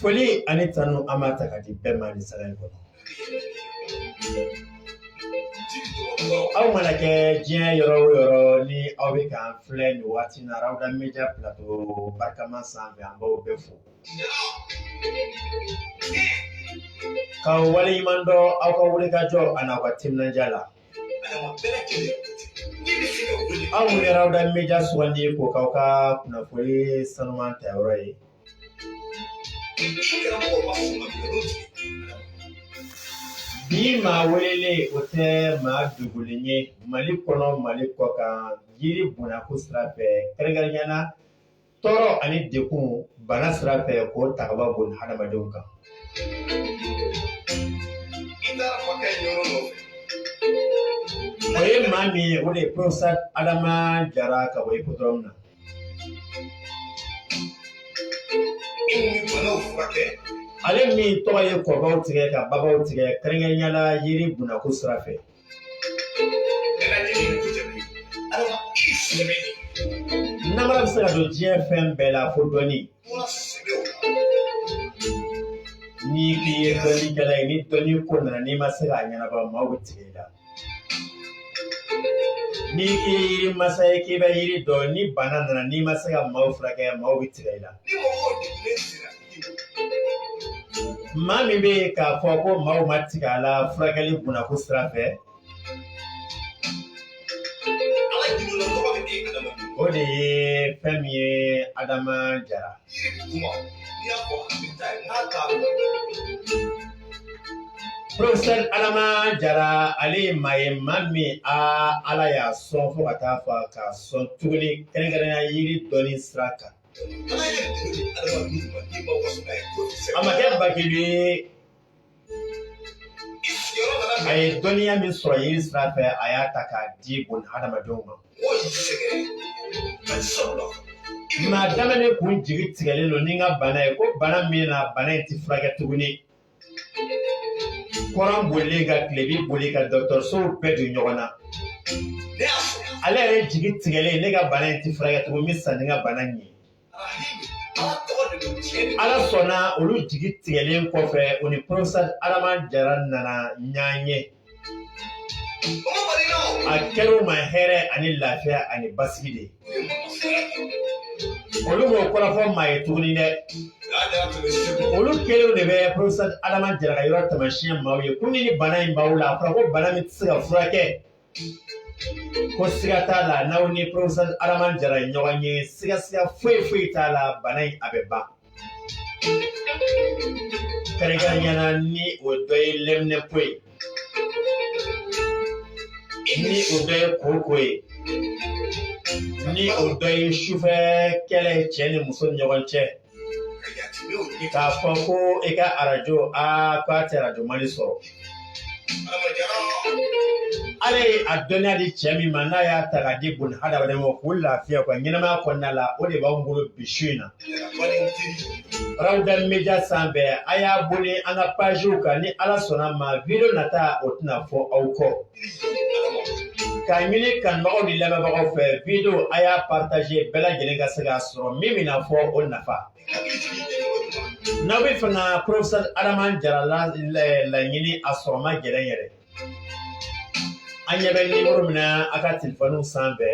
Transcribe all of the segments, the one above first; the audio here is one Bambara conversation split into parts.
Foli ani tanu an b'a ta k'a di bɛɛ ma nin sanga in kɔnɔ aw mana kɛ diɲɛ yɔrɔ o yɔrɔ ni aw bɛ k'an filɛ nin waati in na Rawda Media Plateau barikama sanfɛ an b'aw bɛɛ fo k'aw waleɲuman dɔn aw ka wulikajɔ ani aw ka timinandiya la aw minnu ye Rawda Media sugandi k'o k'aw ka kunnafoni sanuman ta yɔrɔ ye bi maa welele o tɛ maa dogolen ye mali kɔnɔ mali kɔkan yiri bonnako sira fɛ kɛrɛnkɛrɛnya na tɔɔrɔ ani degun bana sira fɛ k'o ta ka bɔ bun hadamadenw kan o ye maa min ye o de ye professeur adama jara ka bɔ hippodrome na ale min tɔgɔ ye kɔbaw tigɛ ka babaw tigɛ kɛrɛnkɛrɛnnenya la yiri bonnako sira fɛ namara bɛ se ka don diɲɛ fɛn bɛɛ la fo dɔnni n'i k'i ye dɔnnikɛla ye ni dɔnni ko nana n'i ma se k'a ɲɛnabɔ maaw bɛ tigɛ i la ni i ye yiri masa ye k'i bɛ yiri dɔn ni bana nana n'i ma se ka maaw furakɛ maaw bɛ tigɛ i la maa min bɛ yen k'a fɔ ko maaw ma tigɛ a la furakɛli bonnako sira fɛ o de ye fɛn min ye adama jara Professeur Adama Jara ale ye maa ye maa min aa Ala y'a sɔn fo ka taa fɔ k'a sɔn tuguni kɛrɛnkɛrɛnnenya yiri dɔnni sira kan. A ma kɛ bakili ye a ye dɔnniya min sɔrɔ yiri sira fɛ a y'a ta k'a di bun hadamadenw ma maa daminɛ kun jigi tigɛlen don ni n ka bana ye ko bana min na bana in ti furakɛ tuguni kɔrɔn bolilen ka tilebi boli ka dɔgɔtɔrɔsow bɛɛ don ɲɔgɔn na ale yɛrɛ jigi tigɛlen ne ka bana in ti furakɛ tugun n bɛ sa ni n ka bana in ye ala sɔnna olu jigi tigɛlen kɔfɛ o ni professeur adama jara nana ɲɔgɔn ye a kɛr'u ma hɛrɛ ani lafiya ani basigi de olu b'o kɔrɔ fɔ maa ye tuguni dɛ olu kelenw de bɛ professeur adama jara ka yɔrɔ taamasiyɛn maaw ye ko ni bana in b'aw la a fɔra ko bana min tɛ se ka furakɛ ko siga t'a la n'aw ni professeur adama jara ye ɲɔgɔn ye siga siga foyi foyi t'a la bana in a bɛ ban kɛrɛnkɛrɛnya na ni o dɔ ye lɛminɛpo ye ni o dɔ ye koko ye ni o dɔ ye sufɛ kɛlɛ cɛ ni muso ni ɲɔgɔn cɛ k'a fɔ ko i ka arajo aa k'a tɛ arajo mali sɔrɔ ala ye a dɔnniya di cɛ min ma n'a y'a ta k'a di bun hadamaden ma k'o lafiya ka ɲɛnamaya kɔnɔna la o de b'anw bolo bi su in na rawuda media sanfɛ a y'a boli an ka paziw kan ni ala sɔnna ma video nata o tɛna fɔ aw kɔ k'a ɲini kanubagaw ni lamɛnbagaw fɛ video a y'a partager bɛɛ lajɛlen ka se k'a sɔrɔ min bɛna fɔ o nafa n'aw bɛ fɛ ka professeur adama jara laɲini a sɔrɔ man gɛlɛn yɛrɛ an ɲɛ bɛ nimoro min na a ka telefɔniw sanfɛ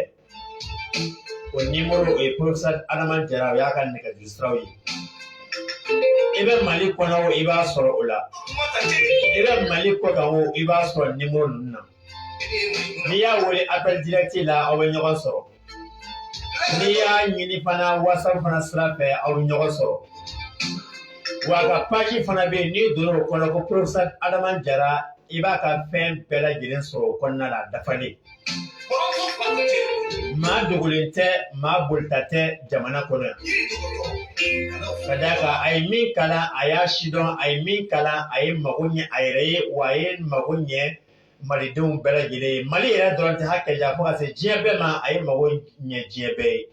O nimoro o ye professeur Adama Jara o y'a ka nɛgɛjuru siraw ye. I bɛ Mali kɔnɔ o i b'a sɔrɔ o la, i bɛ Mali kɔ kan o i b'a sɔrɔ nimoro ninnu na. N'i y'a wele appel direct la aw bɛ ɲɔgɔn sɔrɔ. N'i y'a ɲini fana WhatsApp fana sira fɛ aw bɛ ɲɔgɔn sɔrɔ. Wa a ka page fana bɛ yen n'i donna o kɔnɔ ko professeur Adama Jara i b'a ka fɛn bɛɛ lajɛlen sɔrɔ o kɔnɔna la a dafalen. maa dogolen tɛ maa bolita tɛ jamana kɔnɔ yan ka d'a kan a ye min kalan a y'a sidɔn a ye min kalan a ye mago ɲɛ a yɛrɛ ye wa a ye mago ɲɛ malidenw bɛɛ lajɛlen ye mali yɛrɛ dɔrɔn tɛ hakɛ ja fo ka se diɲɛ bɛɛ ma a ye mago ɲɛ diɲɛ bɛɛ ye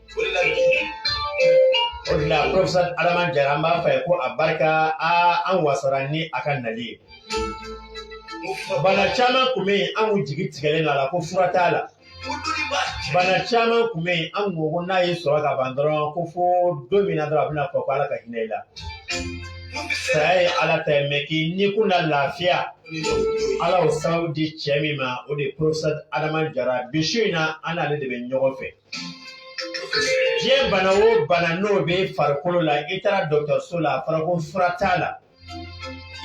o de la professeur adama jara an b'a fɔ a ye ko a barika aa an wasara ni a ka nali ye bana caman kun bɛ yen an kun jigi tigɛlen don a la ko fura t'a la bana caman kun bɛ yen an kun ko ko n'a y'i sɔrɔ ka ban dɔrɔn ko fo don min na dɔrɔn a bɛna fɔ ko ala ka hinɛ i la saya ye ala ta ye mais k'i ni kun na lafiya ala y'o sababu di cɛ min ma o de ye professeur adama jara bi su in na an n'ale de bɛ ɲɔgɔn fɛ diɲɛ bana o bana n'o bɛ farikolo la i taara dɔgɔtɔrɔso la a fɔra ko fura t'a la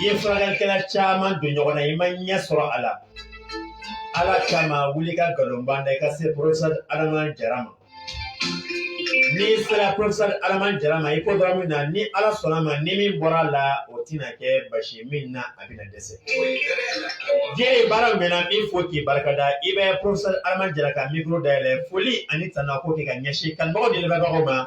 i ye furakɛlikɛla caman don ɲɔgɔn na i ma ɲɛ sɔrɔ a la ala kama wuli ka nkalonba da i ka se professeur adama jara ma n'i sera professeur adama jara ma i ko dɔrɔn min na ni ala sɔnna ma ni min bɔra a la o tɛna kɛ basi min na a bɛna dɛsɛ diɲɛ ye baara min na n b'i fo k'i barika da i bɛ professeur adama jara ka micro dayɛlɛ foli ani tana ko kɛ ka ɲɛsin kanubagaw ni lamɛnbagaw ma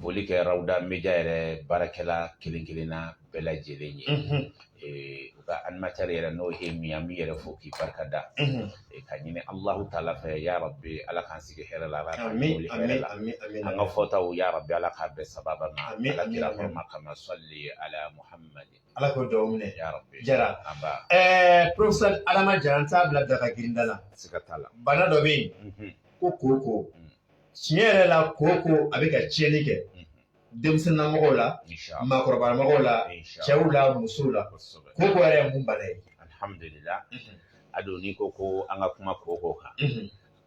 foli kɛ rawuda média yɛrɛ baarakɛla kelen kelenna bɛɛ lajɛlen ye u ka animatɛri yɛrɛ n'o ye min an b'i yɛrɛ fo k'i barika da ka ɲini alahu taala fɛ ya rabi ala k'an sigi hɛrɛ la ala k'an wuli hɛrɛ la an ka fɔtaw ya rabi ala k'a bɛɛ sababa ma ala kira fɛ ma kama sali ala muhamadi ala k'o dugawu minɛ ya rabi jara nba ɛɛ professeur adama jara n t'a bila daga girinda la siga t'a la bana dɔ bɛ yen ko koko tiɲɛ yɛrɛ la koko a bɛ ka tiɲɛni kɛ denmisɛnninmɔgɔw la maakɔrɔbamɔgɔw la cɛw la musow la koko yɛrɛ ye mun bana ye alihamudulila a don n'i ko ko an ka kuma koko kan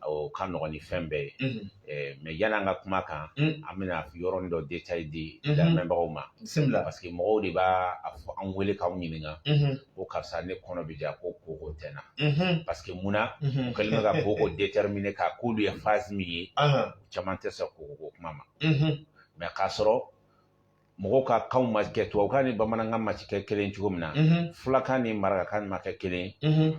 o ka nɔgɔn ni fɛn bɛɛ ye mais yani an ka kuma kan an bɛna yɔrɔnin dɔ détail di lamɛnbagaw ma parce que mɔgɔw de b'a fɔ an wele k'an ɲininka ko karisa ne kɔnɔ bɛ ja ko koko tɛ n na parce que mun na u kɛlen bɛ ka koko déterminer k'a k'olu ye phase min ye caman tɛ sɔn koko ko kuma ma mais k'a sɔrɔ mɔgɔw ka kanw ma kɛ tubabukan ni bamanankan ma kɛ kelen cogo min na fulakan ni marakakan ma kɛ kelen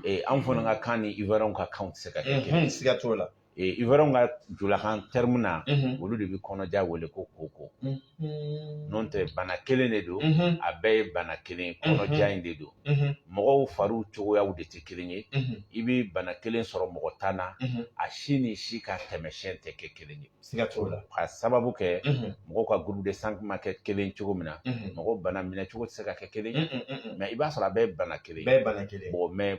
ye anw fana ka kan ni ivoiriyɛnw ka kanw tɛ se ka kɛ kelen ye siga t'o la ivoiriyɛnw ka julakan terme na olu de bɛ kɔnɔja wele ko koko n'o tɛ bana kelen de don a bɛɛ ye bana kelen kɔnɔja in de don mɔgɔw fariw cogoyaw de tɛ kelen ye i bɛ bana kelen sɔrɔ mɔgɔ tan na a si ni si ka tɛmɛsiyɛn tɛ kɛ kelen ye siga t'o la ka sababu kɛ mɔgɔw ka groupe de sang ma kɛ kelen cogo min na mɔgɔw bana minɛ cogo tɛ se ka kɛ kelen mais i b'a sɔrɔ a bɛɛ ye bana kelen ye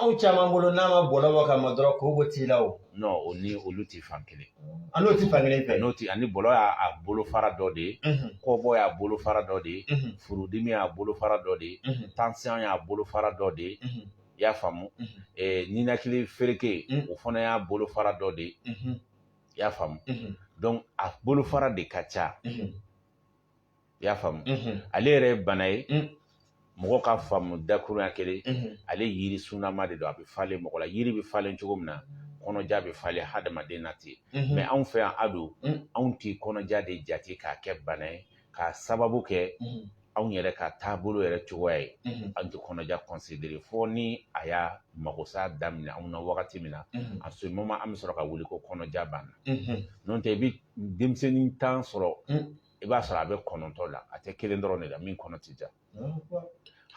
anw caman bolo n'a ma bɔlɔ bɔ ka ma dɔrɔn koko t'i la o non o ni olu tɛ fan kelen a n'o tɛ fan kelen fɛ n'o tɛ ani bɔlɔ y'a a bolofara dɔ de ye Mhm, kɔbɔ y'a bolofara dɔ de ye mhm, furudimi y'a bolofara dɔ de ye mhm, tansiyɔn y'a bolofara dɔ de ye mhm, i y'a faamu Mhm. Eh, ninakili fereke Mhm. o fana y'a bolofara dɔ de ye mhm, i y'a faamu mhm, donc a bolofara de ka ca mhm. i y'a faamu ale yɛrɛ ye bana ye mɔgɔ ka faamu dakuruɲa kelen ale yiri sunama de don a bɛ falen mɔgɔ la yiri bɛ falen cogo min na kɔnɔja bɛ falen hadamaden na ten mais anw fɛ yan a don anw tɛ kɔnɔja de jate k'a kɛ bana ye k'a sababu kɛ anw yɛrɛ ka taabolo yɛrɛ cogoya ye an tɛ kɔnɔja considérer fo ni a y'a magosa daminɛ anw na wagati min na à ce moment an bɛ sɔrɔ ka wuli ko kɔnɔja b'an na n'o tɛ i bɛ denmisɛnnin tan sɔrɔ i b'a sɔrɔ a bɛ kɔnɔntɔ la a tɛ kelen dɔrɔn de la min kɔnɔ tɛ ja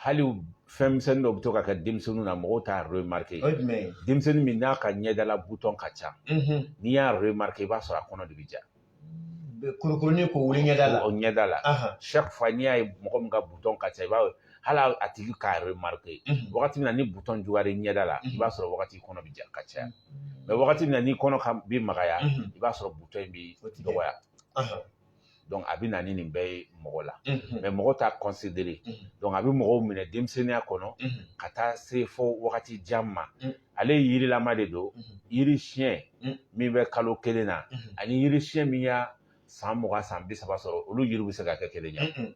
hali fɛn misɛnnin dɔ bɛ to ka kɛ denmisɛnninw na mɔgɔw t'a remarque denmisɛnnin min n'a ka ɲɛdala butɔn ka ca n'i y'a remarque i b'a sɔrɔ a kɔnɔ de bɛ ja kurukurunin ko wuli ɲɛda la o ɲɛda la chaque fois n'i y'a ye mɔgɔ min ka butɔn ka ca i b'a ye hali a tigi k'a remarque wagati min na ni butɔn juguyara i ɲɛda la i b'a sɔrɔ wagati kɔnɔ bɛ ja ka caya mais wagati min na ni kɔnɔ bɛ magaya i b'a sɔrɔ butɔn in bɛ dɔgɔya donc a bɛ na ni nin bɛɛ ye mɔgɔ la mais mɔgɔ t'a considérer donc a bɛ mɔgɔw minɛ denmisɛnninya kɔnɔ ka taa se fo wagati jan ma ale yirilama de don yiri siɲɛ min bɛ kalo kelen na ani yiri siɲɛ min y'a san mugan san bi saba sɔrɔ olu yiri bɛ se ka kɛ kelen ye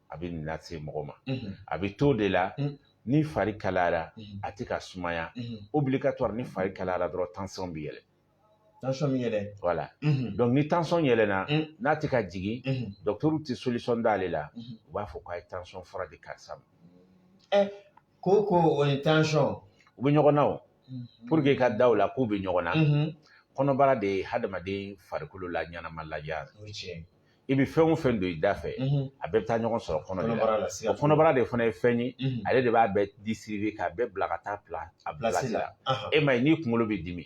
a bɛ nin lase mɔgɔ ma a bɛ to de la ni fari kalayara a tɛ ka sumaya obligatoire ni fari kalayara dɔrɔn tension bɛ yɛlɛ tension bɛ yɛlɛ voilà donc ni tension yɛlɛna n'a tɛ ka jigin docteur tɛ solution d'ale la u b'a fɔ k'a ye tension fura di karisa ma ɛ ko ko o ni tension u bɛ ɲɔgɔn na o pour que ka da o la k'u bɛ ɲɔgɔn na kɔnɔbara de ye hadamaden farikolo la ɲɛnama lajɛ i bɛ fɛn o fɛn don i da fɛ a bɛɛ bɛ taa ɲɔgɔn sɔrɔ kɔnɔbara la o kɔnɔbara de fana ye fɛn ye ale de b'a bɛɛ distribuer k'a bɛɛ bila ka taa bila a place la e ma ye n'i kunkolo bɛ dimi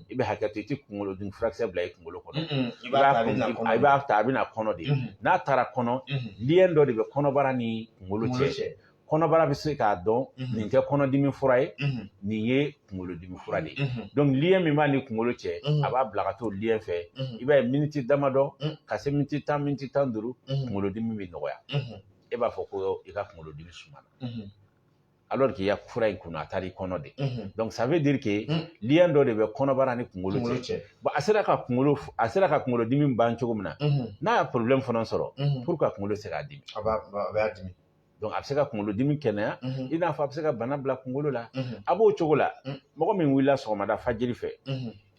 i bɛ hakɛ to i tɛ kunkolodimi furakisɛ bila i kunkolo kɔnɔ i b'a ta a bɛ na kɔnɔ de n'a taara kɔnɔ lien dɔ de bɛ kɔnɔbara ni kunkolo cɛ kɔnɔbara bɛ se k'a dɔn mhm. nin tɛ kɔnɔdimi fura ye mhm. nin ye kunkolodimi fura de ye mhm. donc lien min b'a ni kunkolo cɛ a b'a bila ka t'o lien fɛ i b'a ye miniti damadɔ ka se miniti tan miniti tan duuru kunkolodimi bɛ nɔgɔya e b'a fɔ ko i ka kunkolodimi sumana alors qu'il y a fura in kunna a taara i kɔnɔ de donc ça veut dire que lien dɔ de bɛ kɔnɔbara ni kunkolo cɛ bon a sera ka kunkolo a sera ka kunkolodimi ban cogo min na n'a ye problème fana sɔrɔ pour que a kunkolo se k'a dimi a b'a dimi Donc a bɛ se ka kunkolodimi kɛnɛya i n'a fɔ a bɛ se ka bana bila kunkolo la a b'o cogo la mɔgɔ min wulila sɔgɔmada fajiri fɛ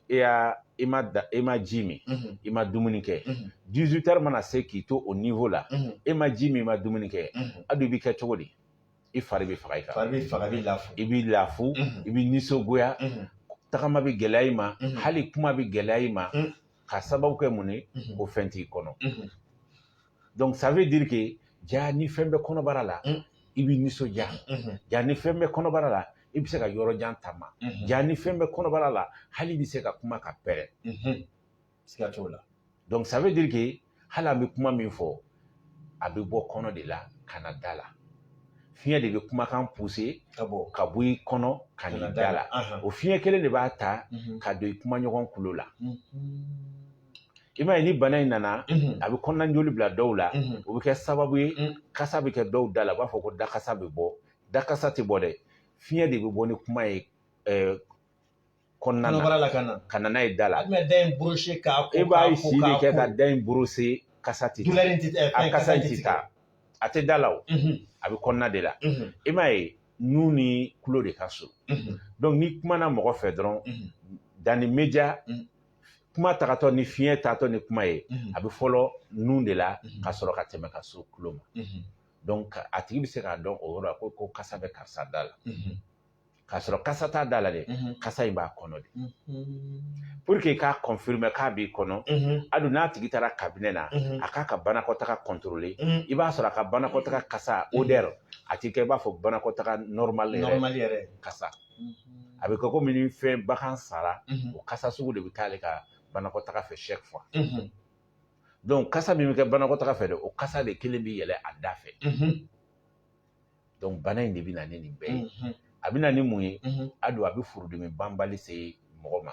e y'a i ma da e ma ji min i ma dumuni kɛ 18 heures mana se k'i to o niveau la e ma ji min i ma dumuni kɛ a dun i bɛ kɛ cogo di i fari bɛ faga i kan fari bɛ faga i bɛ lafu i b'i lafu i bɛ nisɔngoya tagama bɛ gɛlɛya i ma hali kuma bɛ gɛlɛya i ma ka sababu kɛ mun ye ko fɛn t'i kɔnɔ donc ça veut dire que ja ni fɛn bɛ kɔnɔbara la mm. i bɛ nisɔndiya mm-hmm. ja ni fɛn bɛ kɔnɔbara la i bɛ se ka yɔrɔ jan taama mm-hmm. ja ni fɛn bɛ kɔnɔbara la hali i bɛ se ka kuma ka pɛrɛn mm-hmm. siga t'o la donc ça veut dire que hali an bɛ kuma min fɔ a bɛ bɔ kɔnɔ de la ka na da la fiɲɛ de bɛ kumakan pousser ka bɔ ka bɔ i kɔnɔ ka n'i da la o fiɲɛ kelen de b'a ta ka don i kumaɲɔgɔn kulo la i m'a ye ni bana in nana a bɛ kɔnɔna joli bila dɔw la o bɛ kɛ sababu ye kasa bɛ kɛ dɔw da la u b'a fɔ ko dakasa bɛ bɔ dakasa tɛ bɔ dɛ fiɲɛ de bɛ bɔ ni kuma ye kɔnɔna na ka na ka na n'a ye da la e b'a ye si de kɛ ka da in brosser kasa tɛ a kasa tɛ taa a tɛ da la o a bɛ kɔnɔna de la i m'a ye nun ni tulo de ka surun donc n'i kumana mɔgɔ fɛ dɔrɔn dans l'immédiat kuma tagatɔ ni fiɲɛ taatɔ ni kuma ye mhm. a bɛ fɔlɔ nun de la mhm. ka sɔrɔ ka tɛmɛ ka se tulo ma mhm. donc a tigi bɛ se k'a dɔn o yɔrɔ la ko ko kasa bɛ karisa da la k'a sɔrɔ kasa t'a da la dɛ kasa in b'a kɔnɔ de pour que k'a confirmer k'a b'i kɔnɔ a don n'a tigi taara cabinet na a k'a ka banakɔtaga contrôler i b'a sɔrɔ a ka banakɔtaga kasa odeur a tɛ kɛ i b'a fɔ banakɔtaga normal yɛrɛ kasa a bɛ kɛ komi ni fɛn bagan sara o kasa sugu de bɛ k'ale ka banakɔtaga fɛ chaque fois donc kasa min bɛ kɛ banakɔtaga fɛ dɛ o kasa de kelen bɛ yɛlɛ a da fɛ donc bana in de bɛ na ni nin bɛɛ ye a bɛ na ni mun ye a don a bɛ furudimi banbali se mɔgɔ ma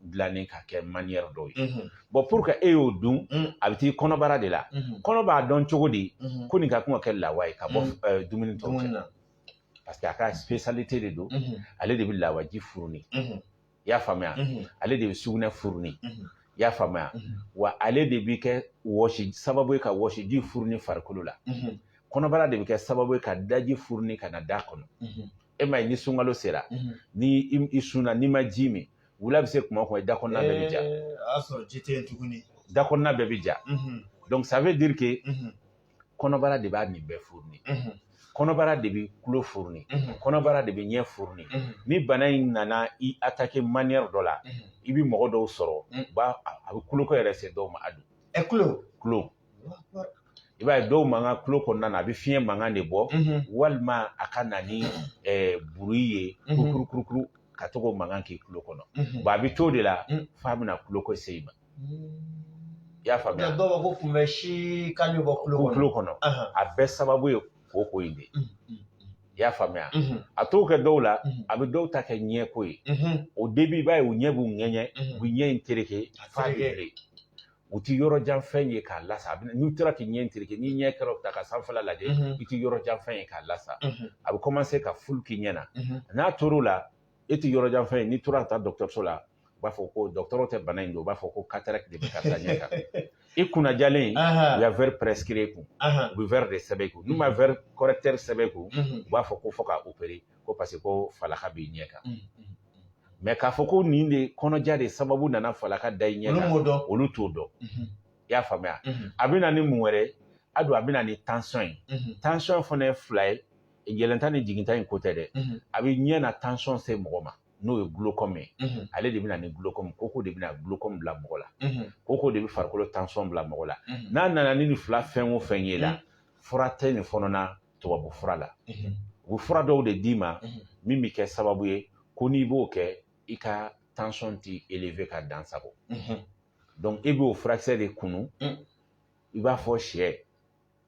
dilannen ka kɛ manière dɔw ye bon pour que e y'o dun a bɛ t'i kɔnɔbara de la kɔnɔ b'a dɔn cogo di ko nin ka kan ka kɛ lawa ye ka bɔ dumuni tɔw cɛ na parce que a ka spécialité de don ale de bɛ lawaji furuni i y'a faamuya ale de bɛ sugunɛ furuni i y'a faamuya wa ale de bɛ kɛ wɔsi sababu ye ka wɔsiji furuni farikolo la kɔnɔbara de bɛ kɛ sababu ye ka daji furuni ka na da kɔnɔ e m'a ye ni sunkalo sera ni i sunna n'i ma ji min wula bɛ se kuma kuma i da kɔnɔna bɛɛ bɛ ja a sɔrɔ ji tɛ yen tuguni da kɔnɔna bɛɛ bɛ ja donc ça veut dire que kɔnɔbara de b'a nin bɛɛ furuni kɔnɔbara de bɛ tulo furuni kɔnɔbara de bɛ ɲɛ furuni ni bana in nana i attaquer manière dɔ la i bɛ mɔgɔ dɔw sɔrɔ a bɛ kuloko yɛrɛ se dɔw ma a don ɛ kulo kulo i b'a ye dɔw mankan tulo kɔnɔna na a bɛ fiɲɛ mankan de bɔ walima a ka na ni bruit ye kurukuru kurukuru ka to k'o mankan k'i tulo kɔnɔ bon a bɛ t'o de la f'a bɛna tulo ko se i ma i y'a faamuya dɔw b'a fɔ ko kunbɛ si ka bɔ tulo kɔnɔ a bɛɛ sababu ye koko in de ye i y'a faamuya a t'o kɛ dɔw la a bɛ dɔw ta kɛ ɲɛko ye au début i b'a ye u ɲɛ b'u ŋɛɲɛ u bɛ ɲɛ in tereke f'a bɛ u ti yɔrɔ jan fɛn ye k'a lasa n'i tora k'i ɲɛ tereke n'i ɲɛ kɔrɔta ka sanfɛla lajɛ i ti yɔrɔ jan fɛn ye k'a lasa a bɛ commencer ka flou k'i ɲɛ na n'a tor'o la e ti yɔrɔ jan fɛn ye n'i tora ka taa dɔgɔtɔrɔso la u b'a fɔ ko dɔgɔtɔrɔ tɛ bana in dɔn u b'a fɔ ko cataracte de bɛ karisa ɲɛ kan i kunna diyalen u ya verre prescrire kun u bɛ verre de sɛbɛn kun n'u ma verre correcteur sɛbɛn kun u b'a fɔ ko fo k'a opérer ko parce que ko falaka b'i ɲɛ kan mɛ k'a fɔ ko nin de kɔnɔja de sababu nana falaka da i ɲɛ kan olu t'o dɔn i y'a faamuya a bɛ na ni mun wɛrɛ a don a bɛ na ni tansɔn ye tansɔn fana ye fila ye yɛlɛnta ni jiginta in ko tɛ dɛ a bɛ ɲɛ na tansɔn se mɔgɔ ma n'o ye gulokɔmi ye ale de bɛ na ni gulokɔmi koko de bɛna gulokɔmi bila mɔgɔ la koko de bɛ farikolo tansɔn bila mɔgɔ la n'a nana ni nin fila fɛn o fɛn ye la fura tɛ nin fana na tubabu fura la u bɛ fura dɔw de d'i ma min bɛ kɛ sababu ye ko n'i b'o kɛ i ka tansɔn tɛ eleve ka dan sago dɔnku i b'o furakisɛ de kunun i b'a fɔ sɛ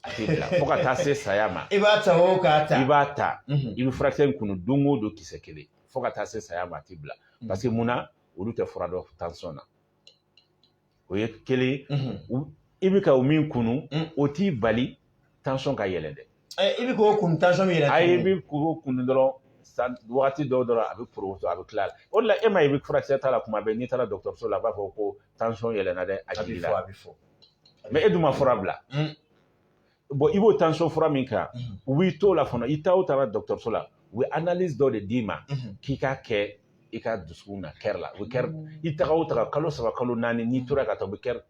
a tɛ bila fo ka taa se saya ma i b'a ta o k'a ta i b'a ta i bɛ furakisɛ in kunun don o don kisɛ kelen fo ka taa se saya ma a tɛ bila parce que mun na olu tɛ fura dɔn tansɔn na o ye kelen i bɛ ka o min kunu o t'i bali tansɔn ka yɛlɛ dɛ i bɛ k'o kunu tansɔn bɛ yɛlɛ ayi i bɛ k'o kunu dɔrɔn sa wagati dɔw dɔrɔn a bɛ poroto a bɛ tila o la e ma i bɛ furakisɛ ta la kuma bɛɛ n'i taara dɔgɔtɔrɔso la a b'a fɔ ko tansɔn yɛlɛna dɛ a b'i la a bɛ fɔ mɛ e dun ma fura bila bɔn i b'o tansɔn fura min kan u b'i t'o la fana i taa o taara dɔgɔtɔrɔso la u bɛ analyse dɔ de d'i ma k'i k'a kɛ i ka dusukun na kɛri la u bɛ kɛri i taga o taga kalo saba kalo naani n'i tora ka taa u bɛ kɛri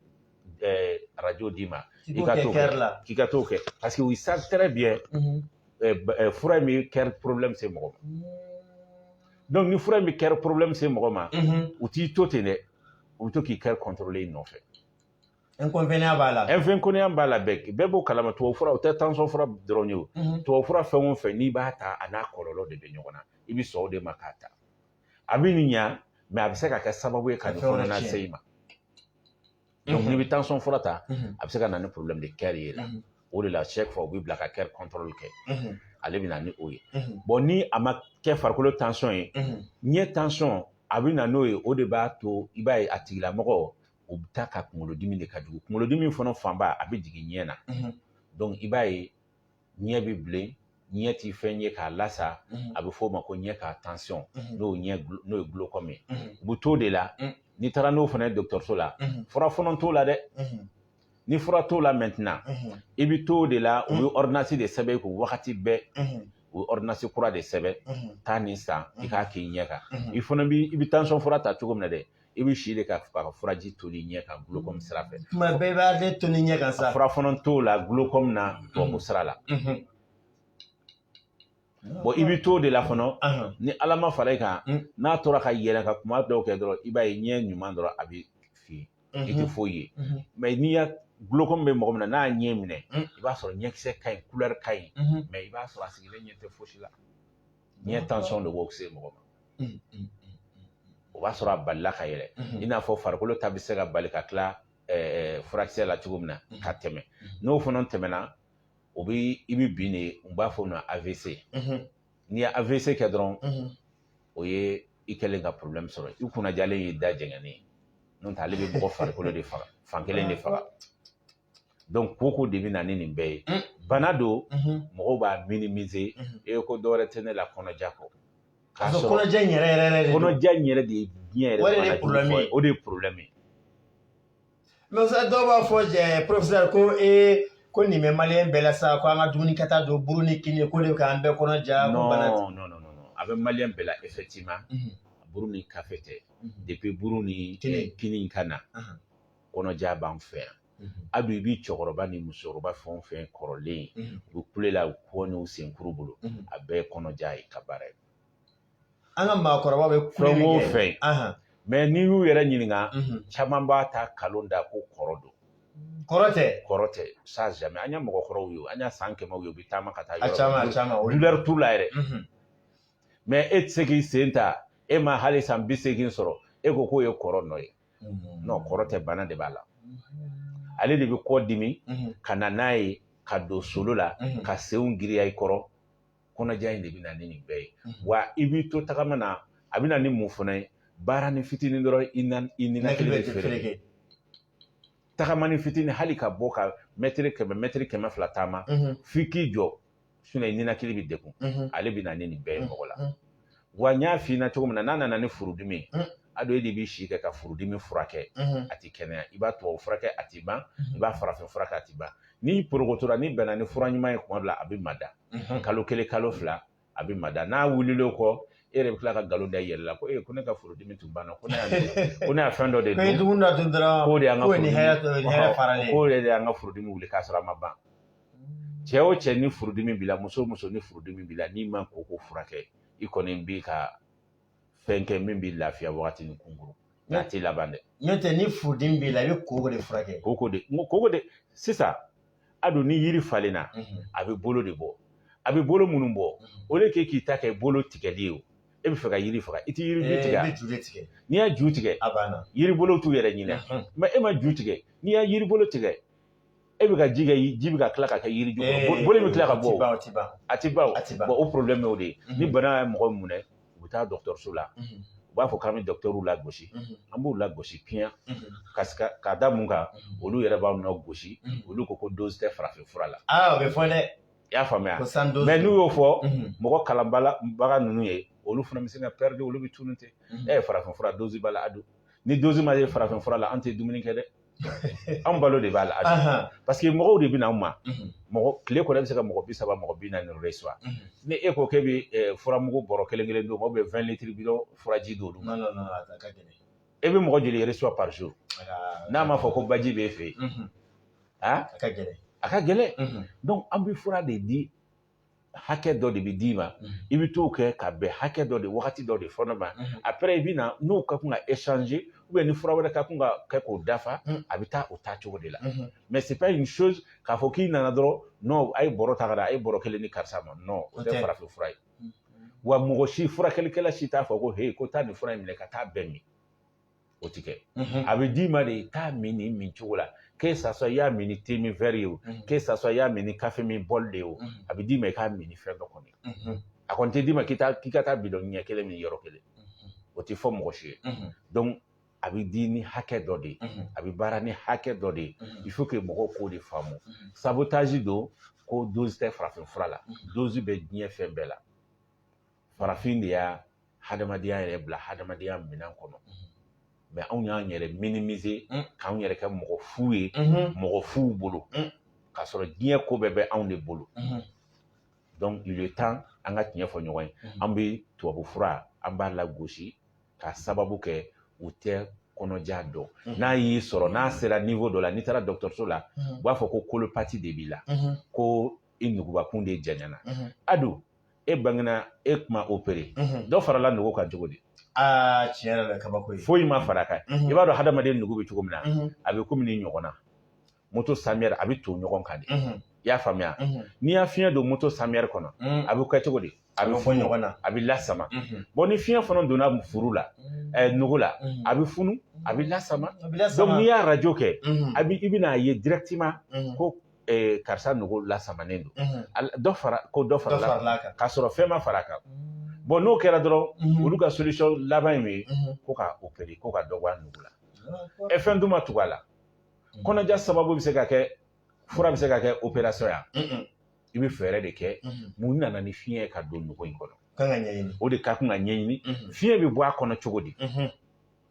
radio d'i ma i ka t'o kɛ k'i ka t'o kɛ parce que u savent très bien fura in bɛ kɛri problème se mɔgɔ ma donc ni fura in bɛ kɛri problème se mɔgɔ ma u t'i to ten dɛ u bɛ to k'i kɛri contrôler i nɔfɛ Inconvénient b'a la inconvénient b'a la bɛɛ b'o kalama tubabu fura o tɛ tansɔn fura dɔrɔn ye o tubabu fura fɛn o fɛn n'i b'a ta a n'a kɔlɔlɔ de bɛ ɲɔgɔn na i bɛ sɔn o de ma k'a ta a bɛ nin ɲa mɛ a bɛ se ka kɛ sababu ye ka nin fana lase i ma n'i bɛ tansɔn fura ta a bɛ se ka na ni porobilɛmu de kɛri ye la o de la chaque fois u b'i bila ka kɛri kɔntɔli kɛ ale bɛ na ni o ye bɔn ni a ma kɛ farikolo tansɔn ye ɲɛ tansɔn a bɛ na n'o ye o de b'a to i b'a ye a tigilamɔgɔ o bɛ taa ka kunkolodimi de ka jugu kunkolodimi fana fanba a bɛ jigin ɲɛ na dɔnku i b'a ye ɲɛ bɛ bilen ɲɛ tɛ fɛn ye k'a lasa a bɛ f'o ma ko ɲɛ ka tansɔn n'o ye gulokɔmi ye u bɛ t'o de la n'i taara n'o fana ye dɔgɔtɔrɔso la fura fana t'o la dɛ ni fura t'o la mɛntina i bɛ t'o de la u ye ɔridinasi de sɛbɛn i kun wagati bɛɛ u ye ɔridinasi kura de sɛbɛn taa nin san i k'a k'i ɲɛ kan i fana i bɛ tansɔn fura ta cogo min na dɛ i bɛ si de kɛ ka furaji toni ɲɛ kan gulokɔmi sira fɛ tuma bɛɛ i b'ale toni ɲɛ kan sa fura fana t'o la gulokɔmi na tubabu sira la bɔn i bɛ t'o de la fana ni ala ma fara i kan n'a tora ka yɛlɛ ka kuma dɔw kɛ dɔrɔn i b'a ye ɲɛ ɲuman dɔrɔn a bɛ fin i tɛ foyi ye mɛ n'i y'a gulokɔmi bɛ mɔgɔ min na n'a ɲɛ minɛ i b'a sɔrɔ ɲɛkisɛ ka ɲi kulɛri ka ɲi mɛ i b'a sɔrɔ a sigilen ɲɛ tɛ fosi la ɲɛ tension de b'o se mɔgɔ ma o b'a sɔrɔ a balila ka yɛlɛ i n'a fɔ farikolo ta bɛ se ka bali ka tila furakisɛ la cogo min na ka tɛmɛ n'o fana tɛmɛna o bɛ i bɛ bin de u b'a fɔ o ma AVC n'i ye AVC kɛ dɔrɔn o ye i kɛlen ka problème sɔrɔ i kun na jalen y'i da jɛngɛnen n'o tɛ ale bɛ mɔgɔ farikolo de faga fan kelen de faga donc koko de bɛ na ni nin bɛɛ ye bana don mɔgɔw b'a minimiser e ko dɔwɛrɛ tɛ ne la kɔnɔja kɔ k'a sɔrɔ kɔnɔja in yɛrɛ yɛrɛ de kɔnɔja in yɛrɛ de ye diɲɛ yɛrɛ o de ye problème ye o de ye problème ye mais ça dɔw b'a fɔ ɛɛ professeur ko ee ko nin bɛ maliyɛn bɛɛ la sa ko an ka dumuni kɛta don buru ni kini k'o de k'an bɛɛ kɔnɔ ja ko bana non non non non a bɛ maliyɛn bɛɛ la effectivement buru ni kafe tɛ depuis buru ni kini ka na kɔnɔja b'an fɛ yan a don i b'i cɛkɔrɔba ni musokɔrɔba fɛn o fɛn kɔrɔlen u bɛ kule la u kɔ n'u senkuru bolo a bɛɛ ye kɔnɔja in ka baara ye an ka maakɔrɔba bɛ fɛn o fɛn mais n'i y'u yɛrɛ ɲininka caman b'a ta nkalon da ko kɔrɔ don kɔrɔ tɛ kɔrɔ tɛ ça jamais an ye mɔgɔkɔrɔw ye an y'a san kɛmɛw ye u bɛ taama ka taa yɔrɔ caman caman douleur t'u la yɛrɛ mais e tɛ se k'i sen ta e ma hali san bi seegin sɔrɔ e ko k'o ye kɔrɔ nɔ ye non kɔrɔ tɛ bana de b'a la ale de bɛ kɔ dimi ka na n'a ye ka don solo la ka senw giriya i kɔrɔ kɔnɔja in de bɛ na ni nin bɛɛ ye wa i b'i to tagama na a bɛ na ni mun fana ye baarani fitinin dɔrɔn i na i ninakili bɛ fereke tagamani fitinin hali ka bɔ ka mɛtiri kɛmɛ mɛtiri kɛmɛ fila taama f'i k'i jɔ sinon ninakili bɛ degun ale bɛ na ni nin bɛɛ ye mɔgɔ la wa n y'a f'i ɲɛna cogo min na n'a nana ni furudimi ye a dɔw de b'i si kɛ ka furudimi furakɛ a tɛ kɛnɛya i b'a tubabu furakɛ a tɛ ban i b'a farafin furakɛ a tɛ ban n'i porokotora n'i bɛnna ni fura ɲuman ye kuma dɔ la a bɛ mada kalo kelen kalo fila a bɛ mada n'a wulila o kɔ e yɛrɛ bɛ tila ka nkalon da i yɛrɛ la ko ee ko ne ka furudimi tun banna ko ne y'a ko ne y'a fɛn dɔ de dun k'o de y'an ka furudimi wuli k'a sɔrɔ a ma ban cɛ o cɛ ni furudimi b'i la muso o muso ni furudimi b'i la n'i ma koko furakɛ i kɔni b'i ka fɛn kɛ min b'i lafiya wagatinin kunkurun nka a t'i laban dɛ n'o tɛ ni furudimi b'i la i bɛ koko de furakɛ koko de n ko koko de sisan a don ni yiri falenna a bɛ bolo de bɔ a bɛ bolo minnu bɔ o de kɛ k'i ta kɛ bolo tigɛli ye o e bɛ fɛ ka yiri faga i tɛ yiri ju tigɛ i bɛ ju de tigɛ n'i y'a ju tigɛ a banna yiri bolo t'u yɛrɛ ɲinɛ mais e ma ju tigɛ n'i y'a yiri bolo tigɛ e bɛ ka ji kɛ ji bɛ ka tila ka kɛ yiri ju kɔrɔ bolo bɛ tila ka bɔ a tɛ ban a tɛ ban a tɛ ban o problème y'o de ye ni bana ye mɔgɔ minɛ u bɛ taa dɔgɔtɔrɔso la u b'a fɔ k'an bɛ dɔgɔtɔrɔw lagosi an b'u lagosi bien ka ka da mun kan olu yɛrɛ b'anw lagosi olu ko ko dozi tɛ farafin fura la aa o bɛ fɔ dɛ i y'a faamuya mais n'u y'o fɔ mɔgɔ kalanbaga ninnu ye olu fana bɛ se ka pɛridi olu bɛ tunun ten e ye farafin fura dozi b'a la a don ni dozi ma ye farafin fura la an tɛ dumuni kɛ dɛ an balo de b'a la a parce que mɔgɔw de bɛ na an ma mɔgɔ tile kɔnɔ bɛ se ka mɔgɔ bi saba mɔgɔ bi naani reçoit ni e ko k'e bɛ furamugu bɔrɔ kelen kelen d'u ma ou bien vingt litres bidon furaji d'olu ma e bɛ mɔgɔ joli reçoit par jour n'a ma fɔ ko baji bɛ e fɛ yen a ka gɛlɛn a ka gɛlɛn donc an bɛ fura de di hakɛ dɔ de bɛ d'i ma i bɛ t'o kɛ ka bɛn hakɛ dɔ de wagati dɔ de fɔlɔ ma après i bɛ na n'o ka kan ka échanger ou bien ni fura wɛrɛ ka kan ka kɛ k'o dafa a bɛ taa o taa cogo de la mais c'est pas une chose k'a fɔ k'i nana dɔrɔn non a ye bɔrɔ ta ka da a ye bɔrɔ kelen di karisa ma non o tɛ farafin fura ye wa mɔgɔ si furakɛlikɛla si t'a fɔ ko he ko taa nin fura in minɛ ka taa a bɛɛ min o tɛ kɛ a bɛ d'i ma de i k'a min nin min cogo la que ça soit i y'a min ni te min verre ye o que ça soit i y'a min ni kafe min bɔli de ye o a bɛ d'i ma i k'a min ni fɛn dɔ kɔni a kɔni tɛ d'i ma k'i ka taa bidɔn ɲɛ kelen min yɔrɔ kelen o tɛ fɔ mɔgɔ si ye donc a bɛ di ni hakɛ dɔ de ye a bɛ baara ni hakɛ dɔ de ye il faut que mɔgɔw k'o de faamu sabotage don ko dozi tɛ farafin fura la dozi bɛ diɲɛ fɛn bɛɛ la farafin de y'a hadamadenya yɛrɛ bila hadamadenya minɛn kɔnɔ mais anw y'an yɛrɛ minimiser k'an yɛrɛ kɛ mɔgɔ fu ye mɔgɔ fuw bolo k'a sɔrɔ diɲɛ ko bɛɛ bɛ anw de bolo donc il est temps an ka tiɲɛ fɔ ɲɔgɔn ye an bɛ tubabu fura an b'a lagosi k'a sababu kɛ u tɛ kɔnɔja dɔn n'a y'i sɔrɔ n'a sera niveau dɔ la n'i taara dɔgɔtɔrɔso la u b'a fɔ ko colopathie de b'i la ko i nugubakun de janyana adu e bangena e kun ma opéré mhm. dɔ farala nugu kan cogo di ah, tiɲɛ yɛrɛ la kabako ye foyi ma far'a kan mhm. i b'a dɔn hadamaden nugu bɛ cogo min na mhm. a bɛ komi nin ɲɔgɔn na moto samiyɛri a bɛ to ɲɔgɔn kan de i y'a faamuya n'i y'a fiɲɛ don moto samiyɛri kɔnɔ a bɛ kɛ cogo di a bɛ bɔ ɲɔgɔn na a bɛ lasama bon ni fiɲɛ fana donna furu la eh, nugu la a bɛ funu a bɛ lasama donc n'i y'a radio kɛ i bɛna a ye directement ko ee, karisa nugu lasamanen don unhun, Al- dɔ fara ko dɔ dɔ farala kan faral'a kan. k'a sɔrɔ fɛn ma fara a kan bon n'o kɛra dɔrɔn Mhm. olu ka solution laban ye min ye Mhm. ko ka opérer ko ka dɔ bɔ a nugu la D'accord. ɛ fɛn dun ma tugu a la Mhm. kɔnɔja sababu bɛ se ka kɛ fura bɛ se ka kɛ opération ya Mhm, i bɛ fɛɛrɛ de kɛ mhm. mun nana ni fiɲɛ ye ka don nugu in kɔnɔ Kan ka ɲɛɲini. o de ka kan ka ɲɛɲini Mhm, fiɲɛ bɛ bɔ a kɔnɔ cogo di mhm,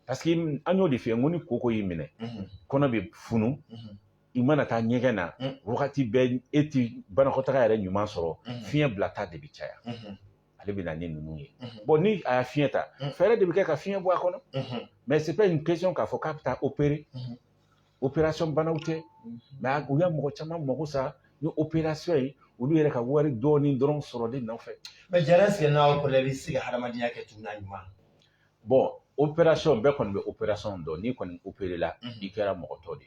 parce que an y'o de f'i ye n ko ni koko y'i minɛ mhm, kɔnɔ bɛ funu mhm. i mana taa ɲɛgɛn na mm. wagati bɛɛ e ti banakɔtaga yɛrɛ ɲuman sɔrɔ mm. fiɲɛ bila ta de bɛ caya mm-hmm. ale bɛ na ni ninnu ye mm-hmm. bon ni a y'a fiɲɛ ta mm. fɛɛrɛ de bɛ kɛ ka fiɲɛ bɔ a kɔnɔ mm-hmm. mais c'est pas une question k'a fɔ k'a bɛ taa opérer opération banaw tɛ mais u ye mɔgɔ caman mago sa ni opération ye olu yɛrɛ ka wari dɔɔni dɔrɔn sɔrɔli nɔfɛ mais jara sigi n'a kɔrɔ i bɛ se ka hadamadenya kɛ cogo na ɲuman bon opération bɛɛ kɔni bɛ opération don n'i kɔni opéré la i kɛra mɔgɔ tɔ de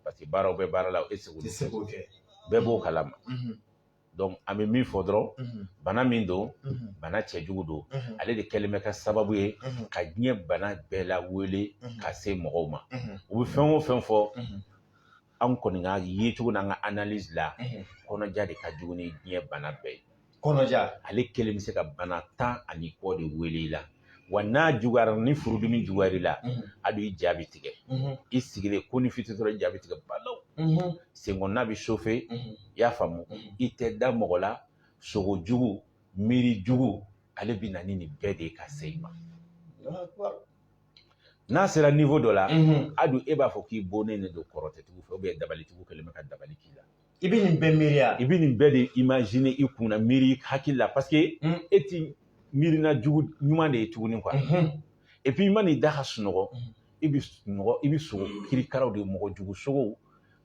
parce que baaraw bɛ baara la e seko tɛ bɛɛ b'o kalama donc an bɛ min fɔ dɔrɔn bana min don bana cɛjugu don ale de kɛlen bɛ ka sababu ye ka diɲɛ bana bɛɛ lawele ka se mɔgɔw ma u bɛ fɛn o fɛn fɔ an kɔni ka yecogo n'an ka analyse la kɔnɔja de ka jugu ni diɲɛ bana bɛɛ ye kɔnɔja ale kelen bɛ se ka bana tan ani kɔ de wele i la wa n'a juguyara ni furudimi juguyara i la a don i ja bɛ tigɛ i sigilen konin fiti dɔrɔn i ja bɛ tigɛ balaw senkɔnɔna bɛ chauffer i y'a faamu i tɛ da mɔgɔ la sogo jugu miiri jugu ale bɛ na ni nin bɛɛ de ye ka se i ma n'a sera niveau dɔ la a don e b'a fɔ k'i bonnen de don kɔrɔtɛtigiw fɛ ou bien dabalitigiw kɛlen bɛ ka dabali k'i la i bɛ nin bɛɛ miiriya i bɛ nin bɛɛ de imaginer i kun na miiri hakili la parce que mm. e ti miirina jugu ɲuman de ye tuguni quoi mm-hmm. et puis i man'i da ka sunɔgɔ mm-hmm. i bɛ sogo kirikaraw de ye mɔgɔ jugu sogow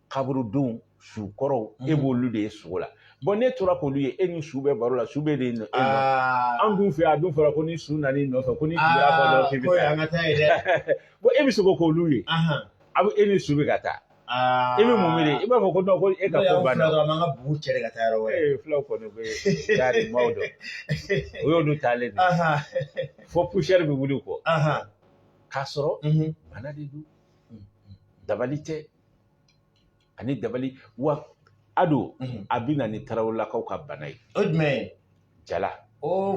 kaburudenw su kɔrɔw e mm-hmm. b'olu de ye sogo la bon n'e tora k'olu ye e ni su bɛ baro la su bɛ de nɔ e ah. an dun fɛ a dun fɔra ko ni su nana i nɔfɛ ko ni su y'a fɔ dɔrɔn k'i bɛ taa bon e bɛ sogo k'olu ye a bɛ e ni su bɛ ka taa Aa i bɛ mun miiri i b'a fɔ ko ko e ka ko banna dɔrɔn an ka bugu cɛ ka taa yɔrɔ wɛrɛ fulaw kɔni bɛ yaari maaw dɔn o y'olu taalen de fo poussière bɛ wuli kɔ k'a sɔrɔ bana de don dabali tɛ ani dabali wa a don a bɛ na ni tarawelelakaw ka bana ye o jumɛn jala o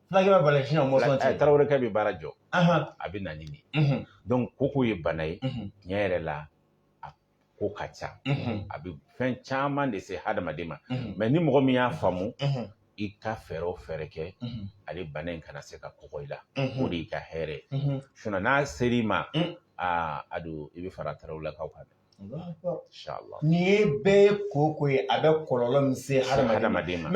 fulakɛ bɛ bali sinon mɔsɔn tɛ tarawelekɛ bɛ baara jɔ a bɛ na ni nin donc koko ye bana ye tiɲɛ yɛrɛ la a ko ka ca a bɛ fɛn caman de se hadamaden ma mais ni mɔgɔ min y'a faamu i ka fɛɛrɛ o fɛɛrɛ kɛ ale bana in kana se ka kɔgɔ i la o de y'i ka hɛrɛ ye sinon n'a ser'i ma a don i bɛ fara tarawelelakaw kan dɛ Nin ye bɛɛ ye koko ye a bɛ kɔlɔlɔ min se hadamaden ma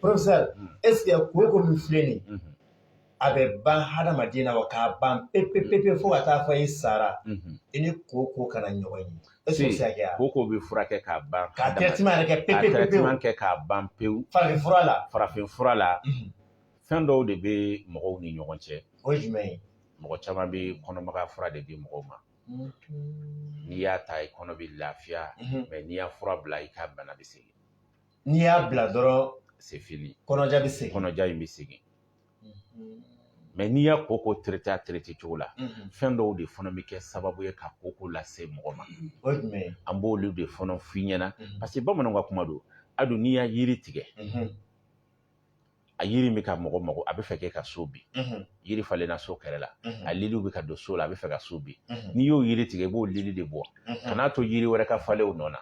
professeur hmm. est ce que koko min filɛ nin hmm. a bɛ ban hadamaden na wa k'a ban pepe pepe fo ka taa fɔ i sara hmm. i ni koko kana ɲɔgɔn ye est ce que o bɛ se ka kɛ wa koko bɛ furakɛ k'a ban ka traitement yɛrɛ kɛ pepe pepe ka traitement kɛ k'a ban pewu farafin fura la farafin fura la fɛn dɔw de bɛ mɔgɔw ni ɲɔgɔn cɛ o ye jumɛn ye mɔgɔ caman bɛ kɔnɔmagaya fura de di mɔgɔw ma n'i y'a ta i kɔnɔ bɛ lafiya mais n'i y'a fura bila i ka bana bɛ segin n'i y'a bila dɔrɔn c'est fini kɔnɔja bɛ segin kɔnɔja in bɛ segin mais n'i y'a koko traité a traité cogo la fɛn dɔw de fana bɛ kɛ sababu ye ka koko lase mɔgɔ ma an b'olu de fana f'i ɲɛna parce que bamananw ka kuma don a don n'i y'a yiri tigɛ a yiri bɛ ka mɔgɔ mɔgɔ a bɛ fɛ k'e ka so bin yiri falenna so kɛrɛ la a liliw bɛ ka don so la a bɛ fɛ ka so bin n'i y'o yiri tigɛ i b'o lili de bɔ kan'a to yiri wɛrɛ ka falen o nɔ na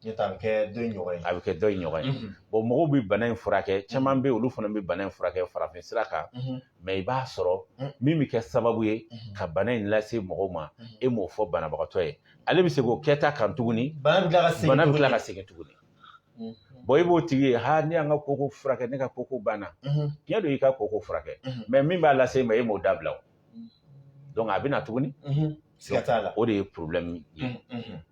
a bɛ kɛ dɔ in ɲɔgɔn ye a bɛ kɛ dɔ in ɲɔgɔn ye mɔgɔw bɛ bana in furakɛ caman bɛ yen olu fana bɛ bana in furakɛ farafin sira kan mais i b'a sɔrɔ min bɛ kɛ sababu ye ka bana in lase mɔgɔw ma e m'o fɔ banabagatɔ ye ale bɛ segin o kɛta kan tuguni bana bɛ tila ka segin tuguni bon i b'o tigi ye ha ne y'an ka koko furakɛ ne ka koko banna tiɲɛ don i ka koko furakɛ mais min b'a lase i ma e m'o dabila o donc a bɛ na tuguni o de ye problème ye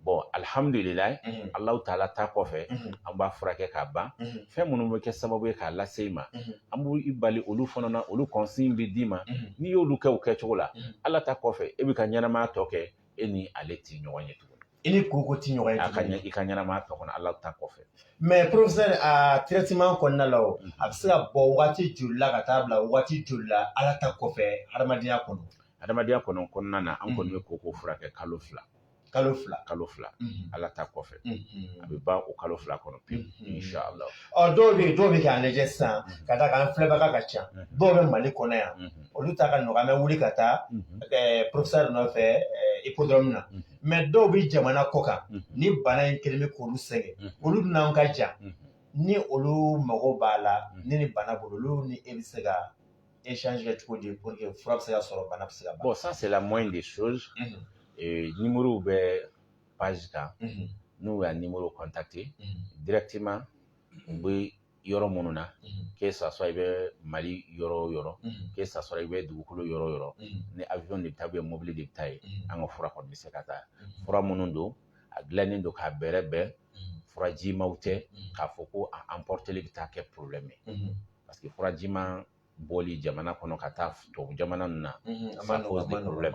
bon alhamdulilayi alahu taala ta kɔfɛ an b'a furakɛ k'a ban fɛn minnu bɛ kɛ sababu ye k'a lase i ma an b'i bali olu fana na olu consigne bɛ d'i ma n'i y'olu kɛ o kɛcogo la ala ta kɔfɛ e b'i ka ɲɛnamaya tɔ kɛ e ni ale tɛ ɲɔgɔn ye tuguni i ni koko tɛ ɲɔgɔn ye a ka ɲɛ i ka ɲɛnamaya tɔ kɔnɔ ala ta kɔfɛ mais professeur a traitement kɔnɔna la o a bɛ se ka bɔ waati joli la ka taa bila waati joli la ala ta kɔfɛ hadamadenya kɔnɔ hadamadenya kɔnɔna na an kɔni bɛ koko furakɛ kalo fila kalo fila kalo fila ala ta kɔfɛ a bɛ ban o kalo fila kɔnɔ pewu inshallah ɔ dɔw bɛ yen dɔw bɛ k'an lajɛ sisan ka d'a kan filɛbaga ka ca dɔw bɛ mali kɔnɔ yan olu ta ka nɔgɔn an bɛ wuli ka taa professeur nɔfɛ hippodrome na mais dɔw bɛ jamana kɔ kan ni bana in kelen bɛ k'olu sɛgɛn olu dun n'anw ka jan ni olu mago b'a la ni nin bana b'u la olu ni e bɛ se ka échange kɛ cogo di pour que fura bɛ se ka sɔrɔ bana bɛ se ka ban bon ça c'est la moindre des choses numéro bɛ page kan n'u y'a numéro contacter directement u bɛ yɔrɔ minnu na que ça soit i bɛ mali yɔrɔ o yɔrɔ que ça soit i bɛ dugukolo yɔrɔ o yɔrɔ ni avion de bɛ taa ou bien mobili de bɛ taa yen an ka fura kɔni bɛ se ka taa fura minnu don a dilannen don k'a bɛrɛbɛn furajimaw tɛ k'a fɔ ko a emporteli bɛ taa kɛ problème ye parce que furajiman bɔli jamana kɔnɔ ka taa tubabu jamana ninnu na ça pose des problèmes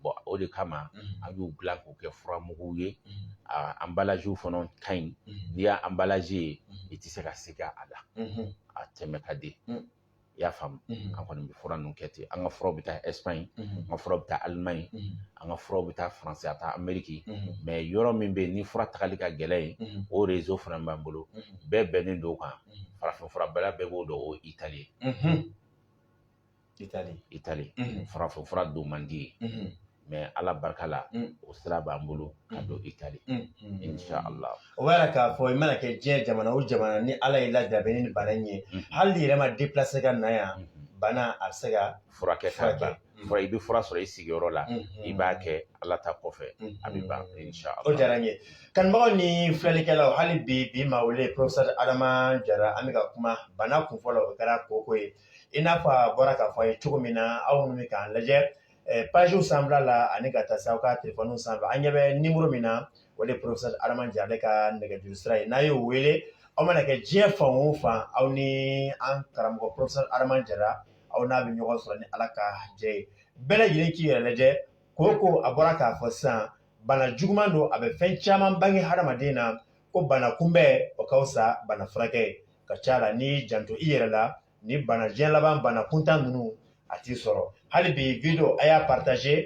bon o de kama an y'u dilan k'u kɛ furamuguw ye a emballage fana ka ɲi n'i y'a emballage ye i tɛ se ka siga a la a tɛmɛ ka di i y'a faamu an kɔni bɛ fura ninnu kɛ ten an ka furaw bɛ taa Espagne an ka furaw bɛ taa Allemagne an ka furaw bɛ taa France a taa Amérique mais yɔrɔ min bɛ yen ni fura tagali ka gɛlɛn yen o réseau fana b'an bolo bɛɛ bɛnnen don o kan farafin fura bɛɛ bɛɛ b'o dɔn o ye itali itali itali farafin fura don man di mais ala barika la o sira b'an bolo ka don itali insha allah o b'a yira k'a fɔ i mana kɛ diɲɛ jamana o jamana ni ala y'i lajarabi ni bana in ye hali n'i yɛrɛ ma déplacer ka na yan bana a bɛ se ka furakɛ ka ban fura i bɛ fura sɔrɔ i sigiyɔrɔ la i b'a kɛ ala ta kɔfɛ a bɛ ban insha Allah o diyara n ye kanubagaw ni filɛlikɛlaw hali bi bi ma wele professeur Adama Jara an bɛ ka kuma bana kun fɔlɔ o kɛra kooko ye i n'a fɔ a bɔra k'a fɔ a ye cogo min na aw minnu bɛ k'an lajɛ pagew sanfɛla la ani ka taa se aw ka telefɔniw sanfɛ an ɲɛ bɛ nimoro min na o de ye professeur Adama Jara ale ka nɛgɛjuru sira ye n'a y'o wele aw mana kɛ diɲɛ fan o fan aw ni an karamɔgɔ professeur Adama Jara aw n'a bɛ ɲɔgɔn sɔrɔ ni ala ka jɛ ye bɛɛ lajɛlen k'i yɛrɛ lajɛ kooko a bɔra k'a fɔ sisan bana juguman don a bɛ fɛn caman bange hadamaden na ko bana kunbɛn o ka fisa bana furakɛ ka ca la n'i janto i yɛrɛ la ni bana diɲɛ laban bana kuntan ninnu a t'i sɔrɔ hali bi video a y'a partager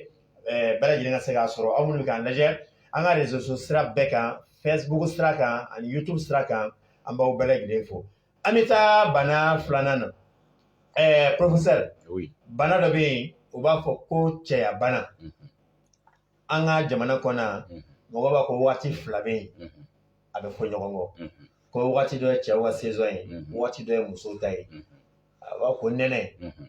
eh, bɛɛ lajɛlen ka se k'a sɔrɔ aw minnu bɛ k'an lajɛ an ka reseaux sociaux sira bɛɛ kan facebook sira kan ani youtube sira kan an b'aw bɛɛ lajɛlen fo an bɛ taa bana filanan na ɛɛ professeur oui. bana dɔ bɛ yen u b'a fɔ ko cɛya bana mm -hmm. an ka jamana kɔnɔ yan mm -hmm. mɔgɔ b'a ko waati fila bɛ yen mm -hmm. a bɛ fɔ ɲɔgɔn kɔ mm -hmm. ko waati dɔ ye cɛw ka saison ye mm -hmm. waati dɔ ye musow ta ye mm -hmm. a b'a ko nɛnɛ mm -hmm.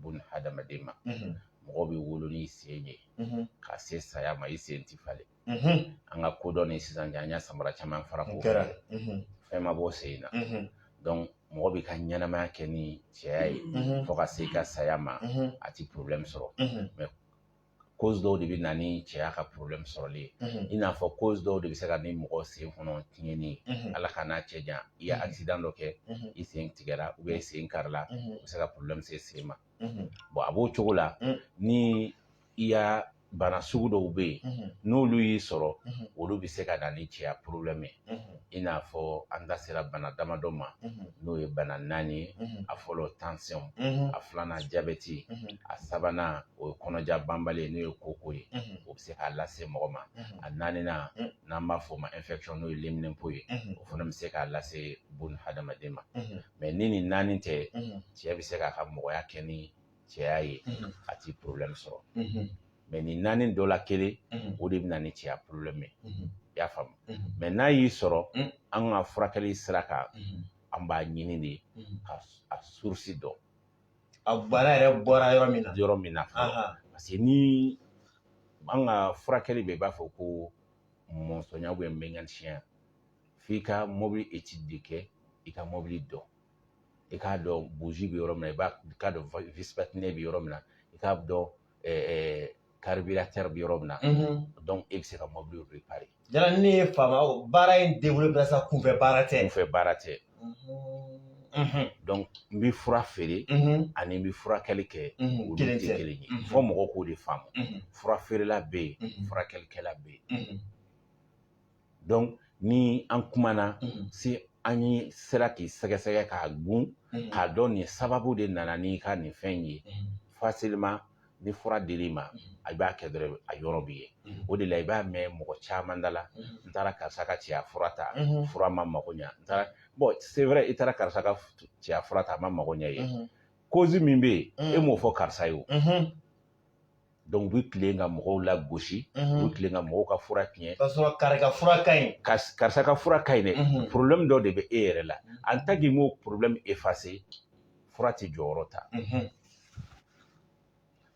bun hadamaden ma mɔgɔ bɛ wolo ni sen ye ka se saya ma i sen ti falen an ka kodɔn ni sisan cɛ an y'a samara caman fara ko fɛn ma bɔ sen na donc mɔgɔ b'i ka ɲɛnamaya kɛ ni cɛya ye fo ka se i ka saya ma a ti porobilɛmu sɔrɔ cause dɔw de bɛ na ni cɛya ka porobilɛmu sɔrɔli ye i n'a fɔ cause dɔw de bɛ se ka ni mɔgɔ sen kɔnɔ tiɲɛni ye ala k'an n'a cɛ jan i ye akisidan dɔ kɛ i sen tigɛra ou bien i sen karila o bɛ se ka porobilɛmu se sen ma bon a b'o cogo la ni i y'a bana sugu dɔw bɛ yen n'olu y'i sɔrɔ olu bɛ se ka na ni cɛya porobilɛmu ye i n'a fɔ an da sera bana damadɔ ma n'o ye bana naani ye a fɔlɔ tansɔn a filanan jabɛti a sabanan o ye kɔnɔja banbali ye n'o ye koko ye o bɛ se k'a lase mɔgɔ ma a naaninan n'an b'a fɔ o ma infection n'o ye leminɛnpo ye o fana bɛ se k'a lase bun hadamaden ma mais ni nin naani tɛ cɛ bɛ se k'a ka mɔgɔya kɛ ni cɛya ye a ti problème sɔrɔ mais nin naani dɔ la kelen o de bɛna ni cɛya problème ye i y'a faamu mais n'a y'i sɔrɔ an ka furakɛli sira kan an b'a ɲini de ka a source dɔn a bana yɛrɛ bɔra yɔrɔ min na yɔrɔ min na parce que ni an ka furakɛli bɛ i b'a fɔ ko mɔnsɔnya ou bien mécanicienya f'i ka mobili étude de kɛ i ka mobili dɔn i k'a dɔn bougie bɛ yɔrɔ min na i b'a i k'a dɔn vis platinée bɛ yɔrɔ min na i k'a dɔn carburateur bɛ yɔrɔ min na donc e bɛ se ka mobili réparer yala ne ye faama baara in debolo sa kunfɛ baara tɛ kunfɛ baara tɛ donc n bɛ fura feere ani n bɛ furakɛli kɛ olu tɛ kelen ye fɔ mɔgɔw k'o de faamu fura feerela bɛ yen furakɛlikɛla bɛ yen donc ni an kumana si an ye sera k'i sɛgɛsɛgɛ k'a gun k'a dɔn nin sababu de nana n'i ka nin fɛn ye facilement ni fura dir'i ma a b'a kɛ dɔrɔn a yɔrɔ bɛ ye o de la i b'a mɛn mɔgɔ caman da la n taara karisa ka cɛya fura ta fura ma mago ɲɛ n taara bon c'est vrai i taara karisa ka cɛya fura ta a ma mago ɲɛ ye cause min bɛ yen e m'o fɔ karisa ye o donc u bɛ tilen ka mɔgɔw lagosi u bɛ tilen ka mɔgɔw ka fura tiɲɛ k'a sɔrɔ kari ka fura ka ɲi karisa ka fura ka ɲi dɛ problème dɔ de bɛ e yɛrɛ la en tant que m'o problème effacé fura tɛ jɔyɔrɔ ta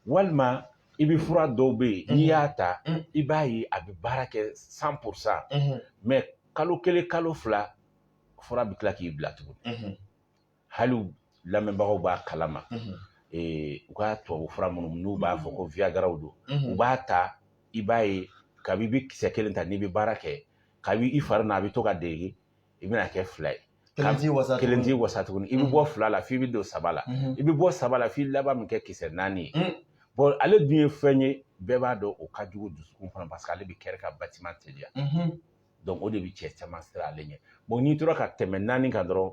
walima i bɛ fura dɔw bɛ yen n'i y'a ta i b'a ye a bɛ baara kɛ cent pour cent mais kalo kelen kalo fila fura bɛ tila k'i bila tuguni hali lamɛnbagaw b'a kalama u ka tubabu fura minnu n'u b'a fɔ ko viagraw don u b'a ta i b'a ye kabi i bɛ kisɛ kelen ta n'i bɛ baara kɛ kabi i fari na a bɛ to ka dege i bɛna kɛ fila ye kelen t'i wasa kelen t'i wasa tuguni i bɛ bɔ fila la f'i bɛ don saba la i bɛ bɔ saba la f'i laban min kɛ kisɛ naani ye bon ale dun ye fɛn ye bɛɛ b'a dɔn o ka jugu dusukun fana parce que ale bɛ cœur ka battement teliya o de bɛ cɛ caman siran ale ɲɛ n'i tora ka tɛmɛ naani kan dɔrɔn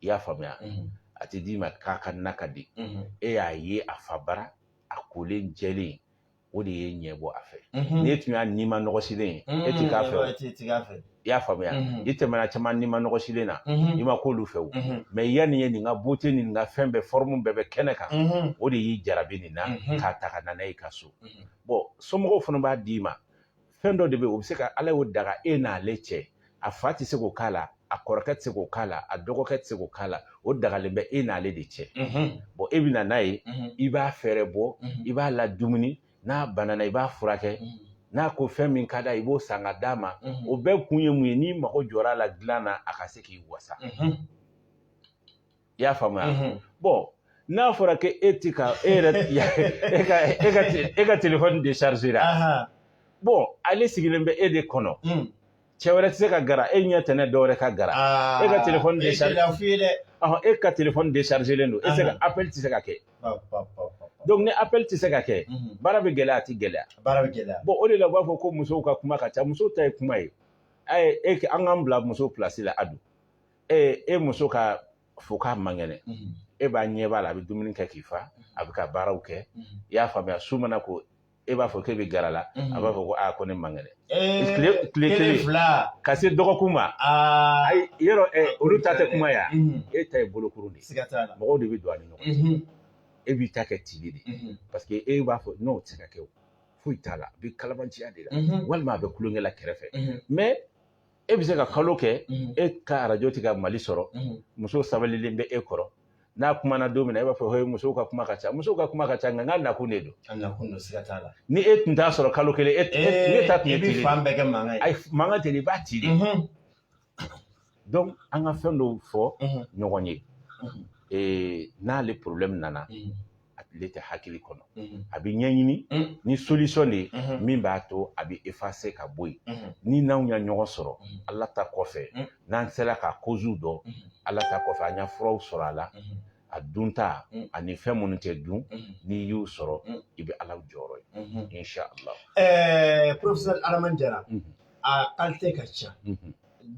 i y'a faamuya a tɛ d'i ma k'a ka na ka di e y'a ye a fa bara a kolen jɛlen o de y'e ɲɛ bɔ a fɛ n'i tun y'a nimanɔgɔsilen ye e tɛ k'a fɛ i y'a faamuya i tɛmɛna caman nimanɔgɔsilen na i ma k'olu fɛ o mais yanni ye nin ka beauté ni nin ka fɛn bɛɛ forme bɛɛ bɛ kɛnɛ kan o de y'i jarabi nin na k'a ta ka na n'a ye i ka so bon somɔgɔw fana b'a d'i ma fɛn dɔ de bɛ yen o bɛ se ka ala y'o daga e n'ale cɛ a fa tɛ se k'o k'a la a kɔrɔkɛ tɛ se k'o k'a la a dɔgɔkɛ tɛ se k'o k'a la o dagalen bɛ e n'ale de cɛ bon e bɛ na n'a ye i b'a fɛɛrɛbɔ i b'a ladumuni n'a banana i b'a furakɛ n'a ko fɛn min ka d'a ye i b'o san ka d'a ma o bɛɛ kun ye mun ye n'i mago jɔra a la dilan na a ka se k'i wasa i y'a faamuya mhm. bɔn n'a fɔra ko e ti ka e yɛrɛ e ka e ka e ka telefɔni déchargéra bɔn ale sigilen bɛ e de kɔnɔ mm. cɛ wɛrɛ tɛ se ka gara e ɲɛ tɛnɛ dɔ wɛrɛ ka gara ah, e ka telefɔni décharger ɔhɔn e ka telefɔni déchargélen don e tɛ se ka appel tɛ se ka kɛ donc ni appel tɛ se ka kɛ mhm. baara bɛ gɛlɛya a tɛ gɛlɛya baara bɛ gɛlɛya bɔn o de la u b'a fɔ ko musow ka kuma ka ca musow ta ye kuma ye a ye e an k'an bila muso pilasi la Ado e e muso k'a fɔ k'a man kɛnɛ mhm. e b'a ɲɛ b'a la a bɛ dumuni kɛ k'i fa mhm. a bɛ ka baaraw kɛ mhm. i y'a faamuya su mana ko e b'a fɔ k'e bɛ gara la a b'a fɔ ko aa ko ne man kɛnɛ tile tile kelen ka se dɔgɔkun ma ayi yɔrɔ olu ta tɛ kuma ya e ta ye bolokuru de ye mɔgɔw de bɛ don a ni ɲɔgɔn cɛ e b'i ta kɛ tile de parce que e b'a fɔ n'o tɛ se ka kɛ o foyi t'a la a bɛ kalabanciya de la walima a bɛ kulonkɛ la kɛrɛfɛ mais e bɛ se ka kalo kɛ e ka arajo tɛ ka Mali sɔrɔ muso sabalilen bɛ e kɔrɔ n'a kumana don min na e b'a fɔ he musow ka kuma ka ca musow ka kuma ka ca nka n ka nakun de don a nakun don siga t'a la ni e tun t'a sɔrɔ kalo kelen e ne ta tun ye tili fan bɛɛ kɛ mankan ye mankan tɛ i b'a ci de donc an ka fɛn dɔw fɔ ɲɔgɔn ye n'ale problème nana ale tɛ hakili kɔnɔ a bɛ ɲɛɲini ni solisɔn de ye min b'a to a bɛ efase ka bɔ yen ni n'anw ya ɲɔgɔn sɔrɔ ala ta kɔfɛ n'an sera k'a kozuw dɔn ala ta kɔfɛ an y'a furaw sɔrɔ a la a dunta ani fɛn minnu tɛ dun n'i y'u sɔrɔ i bɛ ala jɔyɔrɔ ye inchallah ɛɛ porofɛsɛri adama jara a kalite ka ca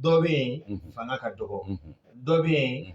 dɔ bɛ yen fanga ka dɔgɔ dɔ bɛ yen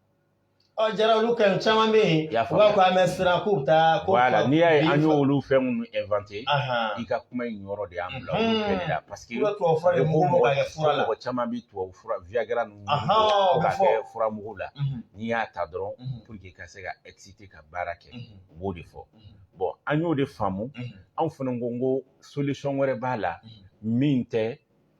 Ɔ jara olu ka caman bɛ yen u b'a fɔ an bɛ siran k'u bɛ taa ko n'i y'a ye an y'olu fɛn minnu ɛnwante i ka kuma in yɔrɔ de y'an bila olu kɛli la paseke mɔgɔ caman bɛ tubabu fura wiyagara ninnu ka kɛ furamugu la n'i y'a ta dɔrɔn puruke ka se ka ɛkisite ka baara kɛ u b'o de fɔ bɔn an y'o de faamu anw fana ko ko solisɔn wɛrɛ b'a la min tɛ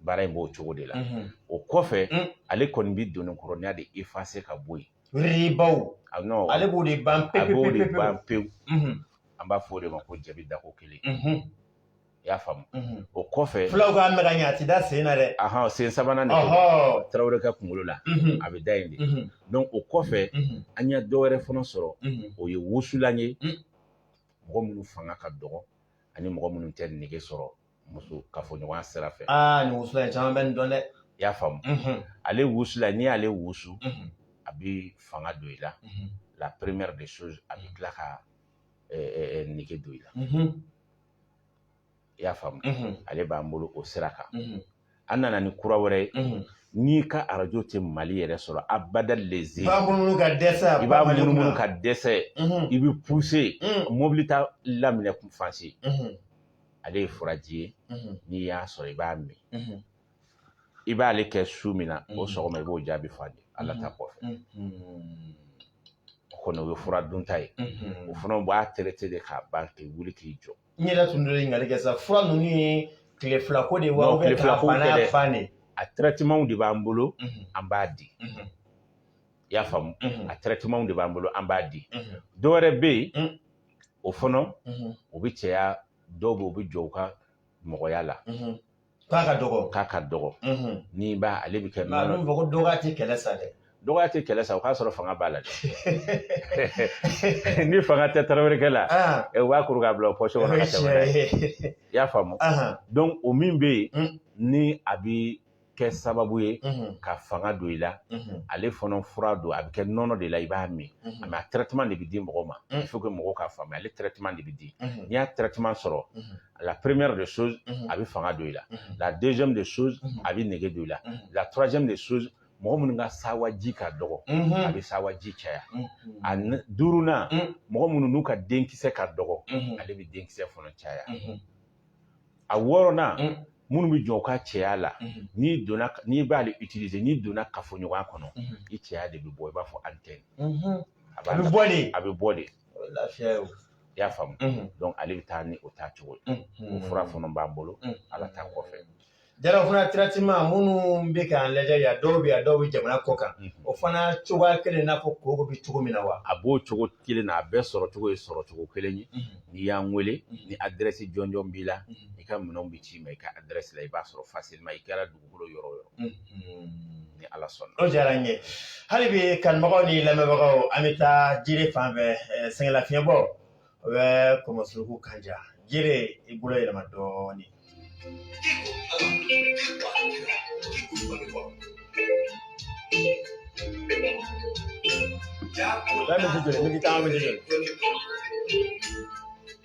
baara in b'o cogo de la o kɔfɛ ale kɔni bɛ doni kɔrɔninya de effacer ka bɔ yen bawo ale b'o de ban pe b'o de ban pewu an b'a fɔ o de ma ko jabi dako kelen i y'a faamu o kɔfɛ fulaw k'a mɛn ka ɲɛ a tɛ da sen na dɛ aɔn sen sabanan tarawele ka kunkolo la a bɛ da yen de donc o kɔfɛ an ye dɔ wɛrɛ fana sɔrɔ o ye wusulan ye mɔgɔ minnu fanga ka dɔgɔ ani mɔgɔ minnu tɛ nege sɔrɔ muso kafoɲɔgɔnya sira fɛ aa nin wusulan in caman bɛ nin dɔn dɛ i y'a faamu ale wusulan n'i y'ale wusu a bɛ fanga don i la la première des choses a bɛ tila ka nege don i la i y'a faamu ale b'an bolo o sira kan an nana ni kura wɛrɛ ye n'i ka arajo tɛ mali yɛrɛ sɔrɔ abada leze i b'a munumunu ka dɛsɛ i bɛ pousser mobili ta laminɛ kun fanse ale ye furaji ye n'i y'a sɔrɔ i b'a min i b'ale kɛ su min na o sɔgɔma i b'o jaabi fɔ de ala ta kɔfɛ o kɔni o ye fura dunta ye o fana b'a traiter de k'a ban k'i wuli k'i jɔ n yɛrɛ tun bɛ ɲininkali kɛ sa fura ninnu ye tile fila ko de ye wa Non, tile fila ko bana tɛ dɛ. y'a ban de a traitement de b'an bolo Mhm, an b'a di mhm, i y'a faamu mhm, a traitement de b'an bolo an b'a di mhm, dɔ wɛrɛ bɛ yen Mm. o fana mhm, o bɛ cɛya dɔw bɛ yen u bɛ jɔn u ka mɔgɔya la mhm, k'a ka dɔgɔ k'a ka dɔgɔ n'i b'a ale bɛ kɛ nka a bɛ fɔ ko dɔgɔya tɛ kɛlɛ sa dɛ dɔgɔya tɛ kɛlɛ sa o k'a sɔrɔ fanga b'a la dɛ ni fanga tɛ tarawelekɛ la u b'a kuru k'a bila o poche kɔnɔ ka tɛmɛ i y'a faamu donc o min bɛ yen ni a bɛ kɛ sababu ye ka fanga don i la ale fana fura don a bɛ kɛ nɔnɔ de la i b'a min mais a traitement de bɛ di mɔgɔ ma fo mɔgɔw k'a faamuya ale traitement de bɛ di n'i y'a traitement sɔrɔ la première des choses mhm. a bɛ fanga don i la mhm. la deuxième des choses mhm. a bɛ nege don i la la troisième des choses mɔgɔ minnu ka sawaji ka dɔgɔ a bɛ sawaji caya a duurunan mɔgɔ minnu n'u ka denkisɛ ka dɔgɔ ale bɛ denkisɛ fana caya a wɔɔrɔnan minnu bɛ jɔn u ka cɛya la n'i donna n'i b'ale utiliser n'i donna kafoɲɔgɔnya kɔnɔ i cɛya de bɛ bɔ i b'a fɔ antenne a bɛ bɔ de a bɛ bɔ de O ye lafiya ye o. I y'a faamu donc ale bɛ taa ni o taa cogo ye o fura fana b'an bolo Ala ta kɔfɛ. Jara fana traitement minnu bɛ k'an lajɛ yan dɔw bɛ yan dɔw bɛ jamana kɔ kan o fana cogoya kelen i n'a fɔ koko bɛ cogo min na wa? A b'o cogo kelen na a bɛɛ sɔrɔ cogo ye sɔrɔ cogo kelen ye n'i y'an wele ni adirɛsi jɔnjɔn b'i la i ka minɛnw bɛ ci i ma i ka adirɛsi la i b'a sɔrɔ facilement i kɛra kolo yɔrɔ o yɔrɔ ni ala sɔnna o diyara n ye hali bi kanubagaw ni lamɛnbagaw an bɛ taa jire fan fɛ sɛgɛnlafiɲɛbɔ o bɛ kɔmɔsuruku kanja jire i bolo yɛlɛma dɔɔnin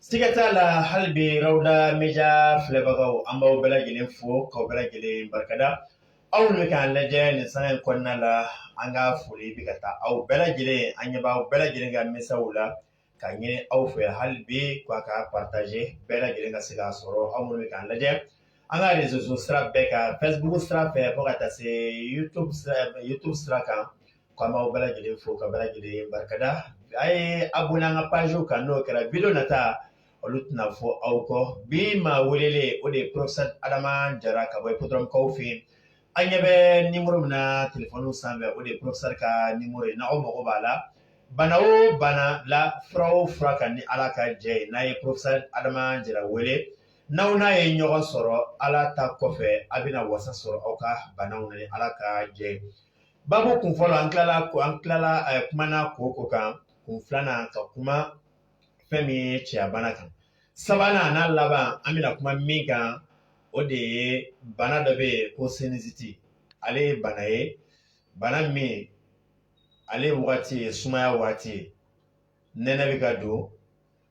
Siga t'a la hali bi rawda media filɛbagaw an b'aw bɛɛ lajɛlen fo k'aw bɛɛ lajɛlen barikada aw minnu bɛ k'an lajɛ nin sanga in kɔnɔna la an ka foli bɛ ka taa aw bɛɛ lajɛlen an ɲɛ b'aw bɛɛ lajɛlen ka mesaziw la ka ɲini aw fɛ hali bi k'a k'a partager bɛɛ lajɛlen ka se k'a sɔrɔ aw minnu bɛ k'an lajɛ an ka reseaux sociaux bɛɛ kan facebook sira fɛ fo ka taa se youtube youtube sira kan K'an b'aw bɛɛ lajɛlen fo ka bɛɛ lajɛlen barikada a ye abonner an ka pagew kan n'o kɛra video nata olu tɛna fɔ aw kɔ bi maa welelen o de ye porofesɛri adama jara ka bɔ hippodrome kaw fɛ yen an ɲɛ bɛ nimero min na telefɔniw sanfɛ o de ye porofesɛri ka nimero ye n'aw mago b'a la bana o bana la fura o fura kan ni ala ka jɛ ye n'a ye porofesɛri adama jara wele n'aw n'a ye ɲɔgɔn sɔrɔ ala ta kɔfɛ a bɛna wasa sɔrɔ aw ka banaw na ni ala ka jɛ Babu kun fɔlɔ an tilala ko an tilala eh, kumana kooko kan kun filanan ka kuma fɛn min ye cɛya bana kan sabanan n'a laban an bɛna kuma min kan o de ye bana dɔ bɛ yen ko sinusite ale ye bana ye bana min ale ye wagati ye sumaya wagati ye nɛnɛ bɛ ka don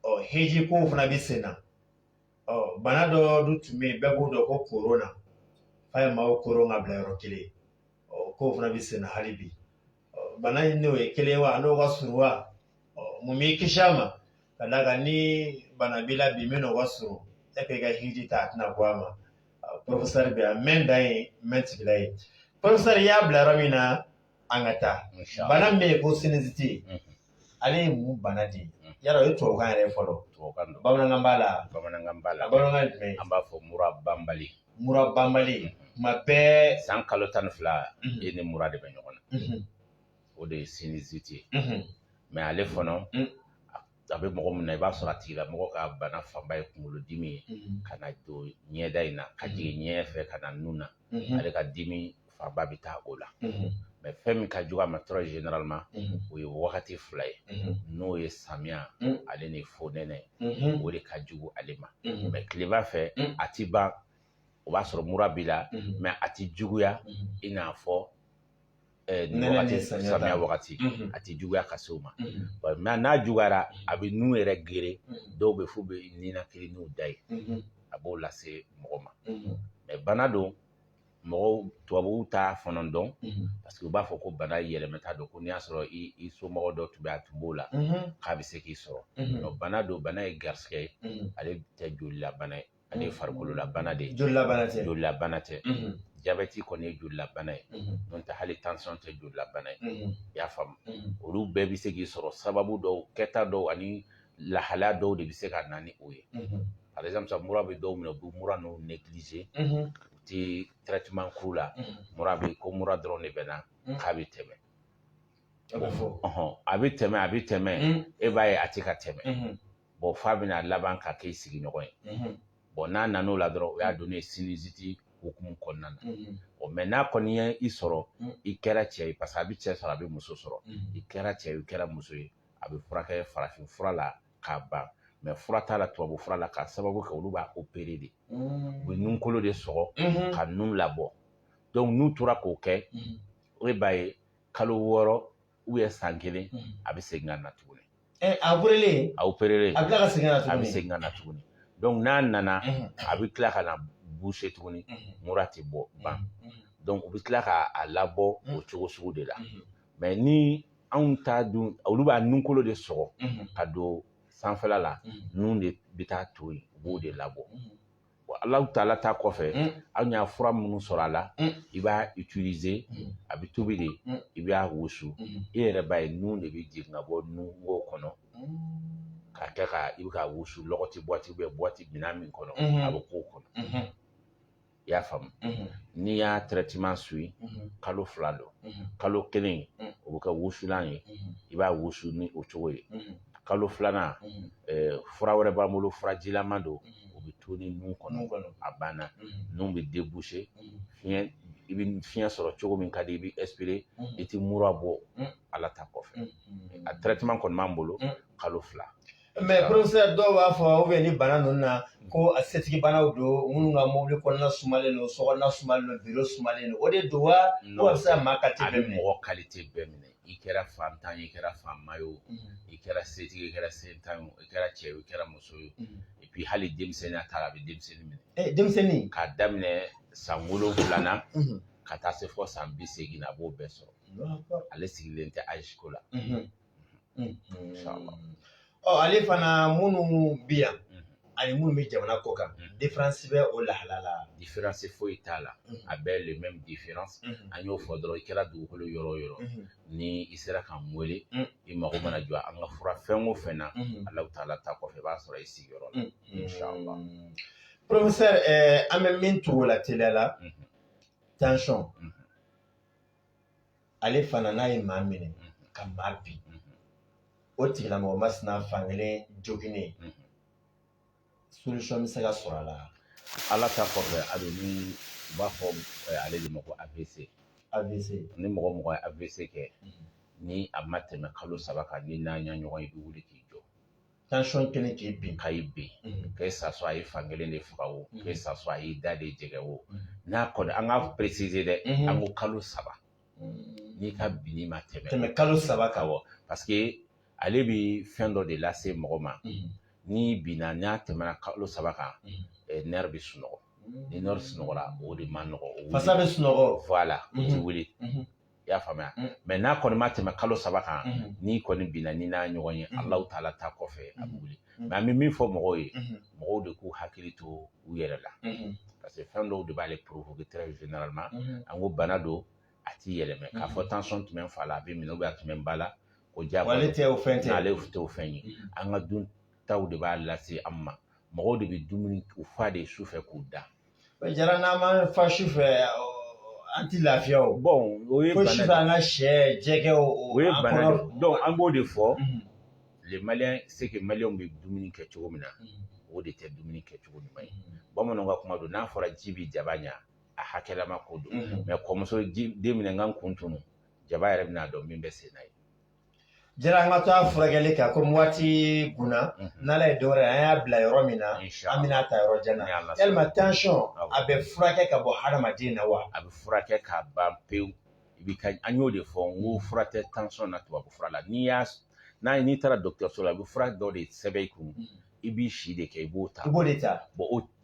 ɔ heji kow fana bɛ sen na ɔ bana dɔ dun tun bɛ yen bɛɛ b'o dɔn ko korona f'a ye maaw koron ka bila yɔrɔ kelen ɔ k'o fana bɛ senna hali bi bana in n'o ye kelen wa n'o ka surun wa mun b'i kisi a ma ka d'a kan ni bana b'i la bi min n'o ka surun e k'i ka hiji ta a tɛna bɔ a ma porofesɛri bɛ yan mɛn dan ye mɛn tigila ye porofesɛri y'a bila yɔrɔ min na an ka taa bana min bɛ yen ko sinusite ale ye mun bana de ye yala o ye tubabukan yɛrɛ fɔlɔ tubabukan don bamanankan b'a la bamanankan b'a la bamanankan jumɛn an b'a fɔ mura banbali mura banbali kuma bɛɛ san kalo tan ni fila e ni mura de bɛ ɲɔgɔn na o de ye sinusite ye mɛ ale fana a bɛ mɔgɔ min na i b'a sɔrɔ a tigilamɔgɔ ka bana fanba ye kunkolodimi ye ka na don ɲɛda in na ka jigin ɲɛ fɛ ka na nun na ale ka dimi fanba bɛ taa o la mɛ fɛn min ka jugu a ma très généralement o ye wagati fila ye n'o ye samiya ale ni fonɛnɛ o de ka jugu ale ma mɛ tilema fɛ a ti ban o b'a sɔrɔ mura b'i la mɛ a ti juguya i n'a fɔ nin samiya wagati a tɛ juguya ka se o ma mais n'a juguyara a bɛ nun yɛrɛ geren dɔw bɛ f'u bɛ ninakili n'u da ye a b'o lase mɔgɔ ma mais bana don mɔgɔw tubabuw t'a fana dɔn parce que u b'a fɔ ko bana yɛlɛmata don ko n'i y'a sɔrɔ i somɔgɔ dɔ tun bɛ a tun b'o la k'a bɛ se k'i sɔrɔ bana don bana ye garisɛgɛ ye ale tɛ jolilabana ye ale ye farikololabana de ye jolilabana tɛ jolilabana tɛ jabɛti kɔni ye jolilabana ye n'o tɛ hali tension tɛ jolilabana ye i y'a faamu olu bɛɛ bɛ se k'i sɔrɔ sababu dɔw kɛta dɔw ani lahalaya dɔw de bɛ se ka na ni o ye par exemple mura bɛ dɔw minɛ u bɛ mura ninnu négliger u tɛ traitement k'u la mura bɛ ko mura dɔrɔn de bɛ na k'a bɛ tɛmɛ a bɛ tɛmɛ a bɛ tɛmɛ e b'a ye a tɛ ka tɛmɛ bon f'a bɛna laban ka k'i sigiɲɔgɔn ye bon n'a nana o la dɔrɔn o y'a donnen ye sinusite hukumu kɔnɔna na ɔ mais n'a kɔni ye i sɔrɔ i kɛra cɛ ye parce que a bɛ cɛ sɔrɔ a bɛ muso sɔrɔ i kɛra cɛ ye i kɛra muso ye a bɛ furakɛ farafin fura la k'a ban mais fura t'a la tubabu fura la k'a sababu kɛ olu b'a opérer de u bɛ nunkolo de sɔgɔ ka nun labɔ donc n'u tora k'o kɛ e b'a ye kalo wɔɔrɔ ou bien san kelen mm. a bɛ segin ka na tuguni eh, a opérélen a opérélen a bɛ tila ka segin ka na tuguni a bɛ segin ka na tuguni donc n'a nana mm-hmm. a bɛ tila ka na boucher tuguni mm-hmm. mura tɛ bɔ ban mm-hmm. donc u bɛ tila ka a labɔ o cogo sugu de la mais ni anw ta dun olu b'a nunkolo de sɔgɔ ka don sanfɛla la nun de bɛ taa to yen u b'o de labɔ Alahu taala ta kɔfɛ an y'a fura minnu sɔrɔ a la i b'a utiliser a bɛ tobi de i b'a wusu e yɛrɛ b'a ye nun de bɛ jigin ka bɔ nungo kɔnɔ ka kɛ ka i bɛ ka wusu ti boîte bɛ boîte minɛn min kɔnɔ a bɛ k'o kɔnɔ i y'a faamu n'i y'a traitement suivi kalo fila don kalo kelen o bɛ kɛ wusulan ye i b'a wusu ni o cogo ye kalo filanan fura wɛrɛ b'an bolo furajilama don o bɛ toni nun kɔnɔ a banna nun bɛ déboucher fiɲɛ i bɛ fiɲɛ sɔrɔ cogo min ka di i bɛ expirer i tɛ mura bɔ ala ta kɔfɛ a traitement kɔni b'an bolo kalo fila mais professeur dɔw b'a fɔ ou bien ni bana ninnu na ko a setigi banaw don minnu ka mobili kɔnɔna sumalen don sokɔnɔna sumalen don biro sumalen don o de don wa ko a bɛ se ka maa kalite bɛɛ minɛ a bɛ mɔgɔ kalite bɛɛ minɛ i kɛra faantan ye o i kɛra faama ye o i kɛra setigi i kɛra sentan ye o i kɛra cɛ ye o i kɛra muso ye o et puis hali denmisɛnninya ta la a bɛ denmisɛnnin minɛ Eh, denmisɛnnin k'a daminɛ san wolonwula na Mhm. ka taa se fɔ san bi seegin na a b'o bɛɛ sɔrɔ ale sigilen tɛ âge ko la Mhm. Mhm. Inshallah. ɔ ale fana minnu bɛ yan ani minnu bɛ jamana kɔ kan différence bɛ o lahala la différence foyi t'a la a bɛɛ le même différence an y'o fɔ dɔrɔn i kɛra dugukolo yɔrɔ o yɔrɔ ni i sera k'an wele i mago mana jɔ an ka fura fɛn o fɛn na alahu taala ta kɔfɛ i b'a sɔrɔ i sigiyɔrɔ la inshallah professeur an bɛ min tugu o la teliya la tension ale fana n'a ye maa minɛ ka maa bin o tigilamɔgɔ masina fankelen joginnen solution bɛ se ka sɔrɔ a la ala ta kɔfɛ a bɛ min u b'a fɔ ale de ma ko avc avc ni mɔgɔ o mɔgɔ ye avc kɛ ni a ma tɛmɛ kalo saba kan ni n'a ye ɲɔgɔn ye i bɛ wuli k'i jɔ tension kɛlen k'i bin ka y'i bin que ça soit a ye fankelen de faga o que ça soit a y'i da de jɛngɛ o n'a kɔni an k'a préciser dɛ an ko kalo saba n'i ka binni ma tɛmɛ kalo saba kan parce que ale bi fɛn dɔ de lase mɔgɔ ma n'i binna n'a tɛmɛna kalo saba kan nerf bɛ sunɔgɔ ni nerf sunɔgɔra o de man nɔgɔ fasa bɛ sunɔgɔ voilà o tɛ wuli i y'a faamuya mm. mais n'a kɔni ma tɛmɛ kalo saba kan mm-hmm. n'i kɔni binna ni n'a ɲɔgɔn ye mm-hmm. alahu taala ta kɔfɛ a bɛ wuli mm-hmm. mais an bɛ min fɔ mɔgɔw ye mɔgɔw de k'u hakili to u yɛrɛ la parce que fɛn dɔw de b'ale provoquer très généralement an ko bana don a ti yɛlɛmɛ k'a fɔ tension tun bɛ n fa la a bɛ n minɛ a tun bɛ n ba la ko diyagoya ale tɛ o fɛn tɛ ale tɛ o fɛn ye an ka duntaw de b'a lase an ma mɔgɔw de bɛ dumuni u fa de su fɛ k'u da jara n'an ma fa su fɛ an ti lafiya o bon o ye bana de an ka sɛ jɛgɛ o o ye bana de donc an b'o de fɔ les maliens c'est que maliens bɛ dumuni kɛ cogo min na o de tɛ dumuni kɛ cogo ɲuman ye bamananw ka kuma don n'a fɔra ji bi jaba ɲa a hakɛlama ko don mais kɔmuso den minɛ n ka kun tunu jaba yɛrɛ bɛn'a dɔn min bɛ sen na ye Jara an ka to a furakɛli kan comme waati kunna n'ala ye dɔwɛrɛ an y'a bila yɔrɔ min na an bɛn'a ta yɔrɔ jan na yalima tension a bɛ furakɛ ka bɔ hadamaden na wa a bɛ furakɛ ka ban pewu i bɛ ka an y'o de fɔ n ko fura tɛ tension na tubabu fura la n'i y'a n'a ye n'i taara dɔgɔtɔrɔso la a bɛ fura dɔ de sɛbɛn i kun i b'i si de kɛ i b'o ta i b'o de ta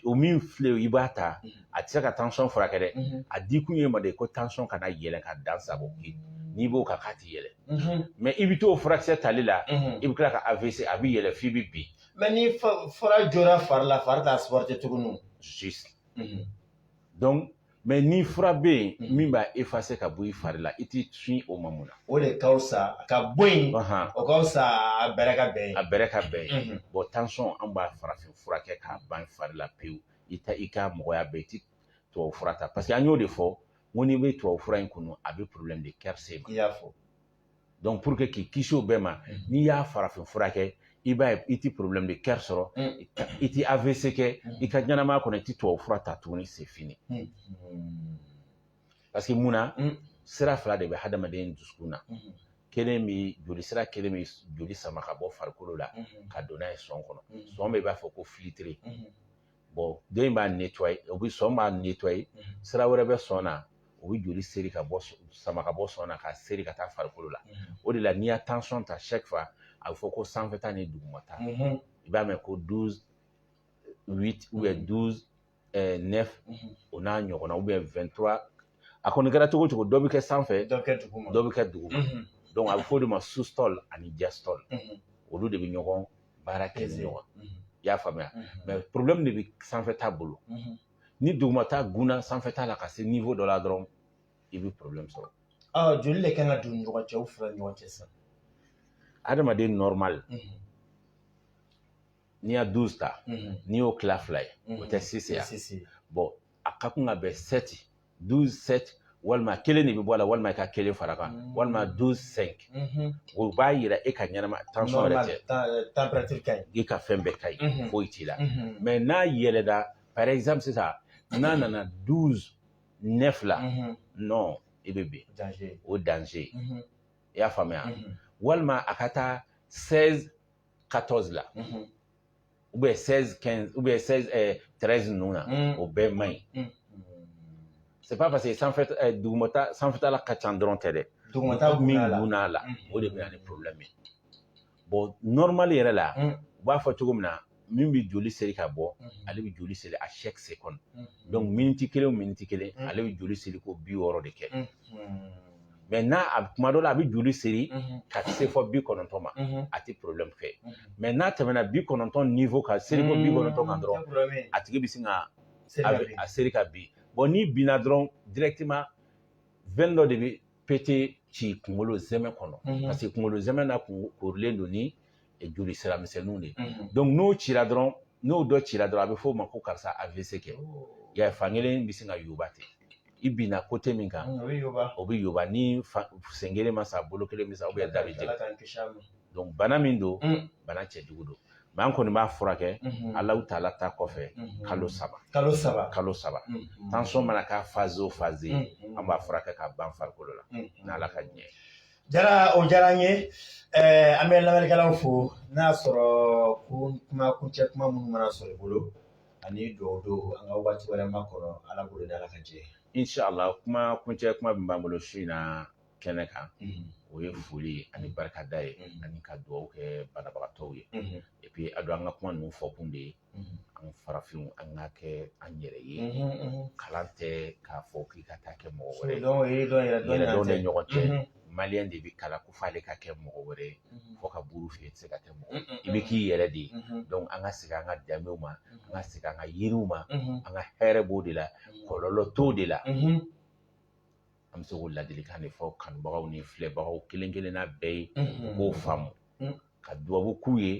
o min filɛ i b'a ta mm-hmm. a tɛ se ka tension furakɛ dɛ mm-hmm. a di kun y'i ma de ko tension kana yɛlɛ ka dan sagon n'i b'o kan k'a ti yɛlɛ mm-hmm. mais i bɛ t'o furakisɛ tali la i bɛ tila ka avc a bɛ yɛlɛ f'i bɛ bin mais ni fura jɔra fari la fari t'a supporter tuguni donc mais ni fura bɛ yen mm-hmm. min b'a effacer ka bɔ i fari la i t'i sin o ma mun na o de ka fisa ka bɔ yen o ka fisa a bɛrɛ ka bɛn a bɛrɛ ka bɛn mm-hmm. bon tension an b'a farafin furakɛ k'a ban fari la pewu i ta i ka mɔgɔya bɛɛ i ti tubabu fura ta parce que an y'o de fɔ n ko n'i bɛ tubabu fura in kunu a bɛ problème de cœur se ma i y'a fɔ donc pour que k'i kisi o bɛɛ ma mm. n'i y'a farafin fura kɛ i b'a ye i ti problème de cœur sɔrɔ mm. i ti AVC kɛ mm. i ka ɲɛnamaya kɔnɔ i ti tubabu fura ta tuguni c'est fini parce que mun na sira fila de bɛ hadamaden dusukun na kelen bi joli sira kelen bi joli sama ka bɔ farikolo la ka don n'a ye sɔn kɔnɔ sɔn bɛ i b'a fɔ ko filtre den in b'a nettoyer o bɛ sɔn b'a nettoyer mhm. sira wɛrɛ bɛ sɔn na o bɛ joli seri ka bɔ sama ka bɔ sɔn na ka seri ka taa farikolo la mhm. o de la n'i y'a tension ta chaque fois a bɛ fɔ ko sanfɛta ni dugumata mhm. i b'a mɛn ko douze huit ou bien douze neuf o n'a ɲɔgɔnna ou bien vingt trois a kɔni kɛra cogo cogo dɔ bɛ kɛ sanfɛ dɔ bɛ kɛ duguma donc a bɛ fɔ o de ma systole ani diastole olu de bɛ ɲɔgɔn baara kɛ ni ɲɔgɔn i y'a faamuya mais problème de bɛ sanfɛ ta bolo ni duguma ta gunna sanfɛ ta la ka se niveau dɔ la dɔrɔn i bɛ problème sɔrɔ joli de kan ka don ɲɔgɔn cɛ u fila ɲɔgɔn cɛ sisan adamaden normal n'i y'a douze ta n'i y'o tila fila ye o tɛ six ye bon a ka kan ka bɛn sept douze sept walima kelen de bɛ bɔ a la walima i ka kelen fara kan mm-hmm. walima douze cinq mm-hmm. o b'a yira e ka ɲɛnama tension yɛrɛ tɛ i ka fɛn bɛɛ ka ɲi mm-hmm. foyi t'i la mais n'a yɛlɛda par exemple sisan n'a nana douze neuf la non i bɛ bin o danger i y'a faamuya walima a ka taa seize 14 la ou bien 16 15 ou bien 16 ɛɛ 13 ninnu na o bɛɛ man ɲi c'est pas parce que sanfɛ ɛɛ dugumata sanfɛtala ka ca dɔrɔn tɛ dɛ dugumata min gun'a la o de bɛ na ni problème ye bon normal yɛrɛ la u b'a fɔ cogo min na min bɛ joli seri ka bɔ ale bɛ joli seri à chaque seconde donc miniti kelen o miniti kelen ale bɛ joli seri ko bi wɔɔrɔ de kɛ mais n'a a kuma dɔ la a bɛ joli seri ka se fo bi kɔnɔntɔn ma a tɛ problème kɛ mais n'a tɛmɛna bi kɔnɔntɔn niveau ka seri ko bi kɔnɔntɔn kan dɔrɔn a tigi bɛ sin ka a seri ka bin bon n'i binna dɔrɔn directement veine dɔ de bɛ péter ci kunkolo zɛmɛ kɔnɔ parce que kunkolo zɛmɛ na korilen don ni joli sira misɛnninw de ye n'o cira dɔrɔn n'o dɔ cira dɔrɔn a bɛ f'o ma ko karisa AVC kɛ ya fankelen bɛ sin ka yoba ten i binna côté min kan o bɛ yoba ni sen kelen ma sa bolo kelen bɛ sa ou bien da bɛ jɛgɛn bana min don bana cɛjugu don mais an kɔni b'a furakɛ ala taala ta kɔfɛ kalo saba tension mana kɛ phase o phase an b'a furakɛ k'a ban farikolo la n'ala ka ɲɛ jara o diyara n ye an bɛ lamɛnnikɛlaw fo n'a y'a sɔrɔ ko kuma kuncɛ kuma minnu mana sɔrɔ i bolo ani dugawu don an ka waati wɛrɛ makɔnɔ ala bolo da ala ka jɛ inshallah kuma kuncɛ kuma min b'an bolo su in na kɛnɛ kan o ye foli ye ani barikada ye ani ka dugawu kɛ banabagatɔw ye epi a don an ka kuma ninnu fɔkun de ye an farafinw an ka kɛ an yɛrɛ ye kalan tɛ k'a fɔ k'i ka taa kɛ mɔgɔ wɛrɛ ye yɛrɛdɔn de ɲɔgɔn cɛ maliyɛn de bɛ kalan ko f'ale ka kɛ mɔgɔ wɛrɛ ye fo ka buru fiyɛ tɛ se ka kɛ mɔgɔ i bɛ k'i yɛrɛ de ye donc an ka segin an ka danbew ma an ka segin an ka yiriw ma an ka hɛrɛ b'o de la kɔlɔlɔ t'o de la an bɛ se k'o ladilikan de fɔ kanubagaw ni filɛbagaw kelen kelenna bɛɛ ye u k'o faamu ka dubabu k'u ye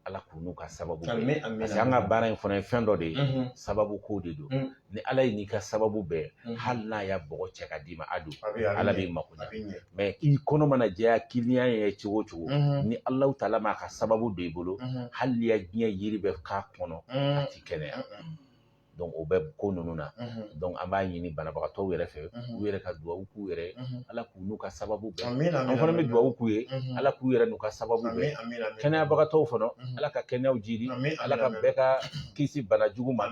ala k'u n'u ka sababu bɛn parce que an ka baara in fana ye fɛn dɔ de ye sababu ko de don ni ala y'i n'i ka sababu bɛn hali n'a y'a bɔgɔ cɛ ka d'i ma a don ala b'i mako ɲɛ mais i kɔnɔ mana jɛya kiliyan ye cogo o cogo ni alahu taala m'a ka sababu don i bolo hali n'i ye diɲɛ yiri bɛɛ k'a kɔnɔ a ti kɛnɛya o bɛ ko ninnu na donc an b'a ɲini banabagatɔw yɛrɛ fɛ u yɛrɛ ka dugawu k'u yɛrɛ ala k'u n'u ka sababu bɛn an fana bɛ dugawu k'u ye ala k'u yɛrɛ n'u ka sababu bɛn kɛnɛyabagatɔw fana ala ka kɛnɛyaw jiidi ala ka bɛɛ ka kisi bana jugu ma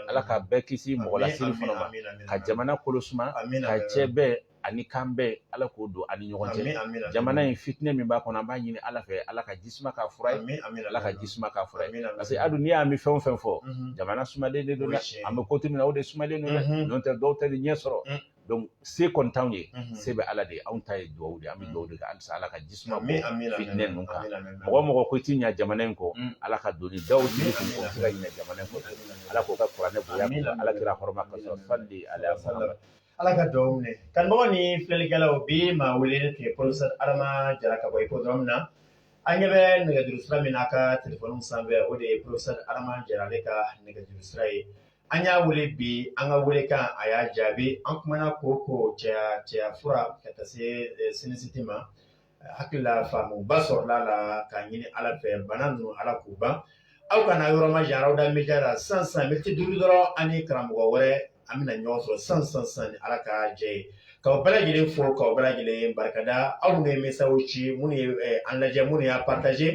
ala ka bɛɛ kisi mɔgɔ lasiri fana ma ka jamana kolo suma ka cɛ bɛn ani kan bɛn ala k'o don an ni ɲɔgɔn cɛ jamana in fitinɛ min b'a kɔnɔ an b'a ɲini ala fɛ ala ka jisuma k'a fura ye ala ka jisuma k'a fura ye parce que adu n'i y'a mɛn fɛn o fɛn fɔ jamana sumalen de don dɛ an bɛ kote min na o de sumalen don dɛ n'o tɛ dɔw tɛ ɲɛ sɔrɔ donc se kɔni t'anw ye se bɛ ala de ye anw ta ye dugawu de an bɛ dugawu de kɛ halisa ala ka jisuma bɔn fitinɛ ninnu kan mɔgɔ o mɔgɔ ko i ti ɲɛ jamana in kɔ ala ka doni daw jiri kun kɔ se ka ɲɛ jamana in kɔ ala k'o kɛ kuranɛ bonya ala kira hɔrɔma ka sɔrɔ fali ala ala ka dugawu minɛ kanubagaw ni filɛlikɛlaw bi maa wele tun ye professeur adama jara ka bɔ hippodrome na an ɲɛ bɛ nɛgɛjuru sira min na a ka telefɔni sanfɛ o de ye professeur adama jara ale ka nɛgɛjuru sira ye an y'a wele bi an ka welekan a y'a jaabi an kumana kooko cɛya fura ka taa se sinisiti ma hakili la faamuba sɔrɔla a la k'a ɲini ala fɛ bana ninnu ala k'u ban aw kana yɔrɔ majan aw da média la sisan miniti duuru dɔrɔn an ni karamɔgɔ wɛrɛ an bɛna ɲɔgɔn sɔrɔ sisan sisan ni ala ka jɛ ye k'aw bɛɛ lajɛlen fo k'aw bɛɛ lajɛlen barikada aw minnu ye mesazi ci minnu ye eh, an lajɛ minnu y'a partaze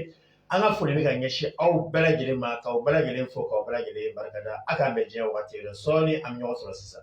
an ka foli bɛ ka ɲɛsin aw bɛɛ lajɛlen ma k'aw bɛɛ lajɛlen fo k'aw bɛɛ lajɛlen barikada a k'an bɛn diɲɛ waati yɛrɛ sɔɔni an bɛ ɲɔgɔn sɔrɔ sisan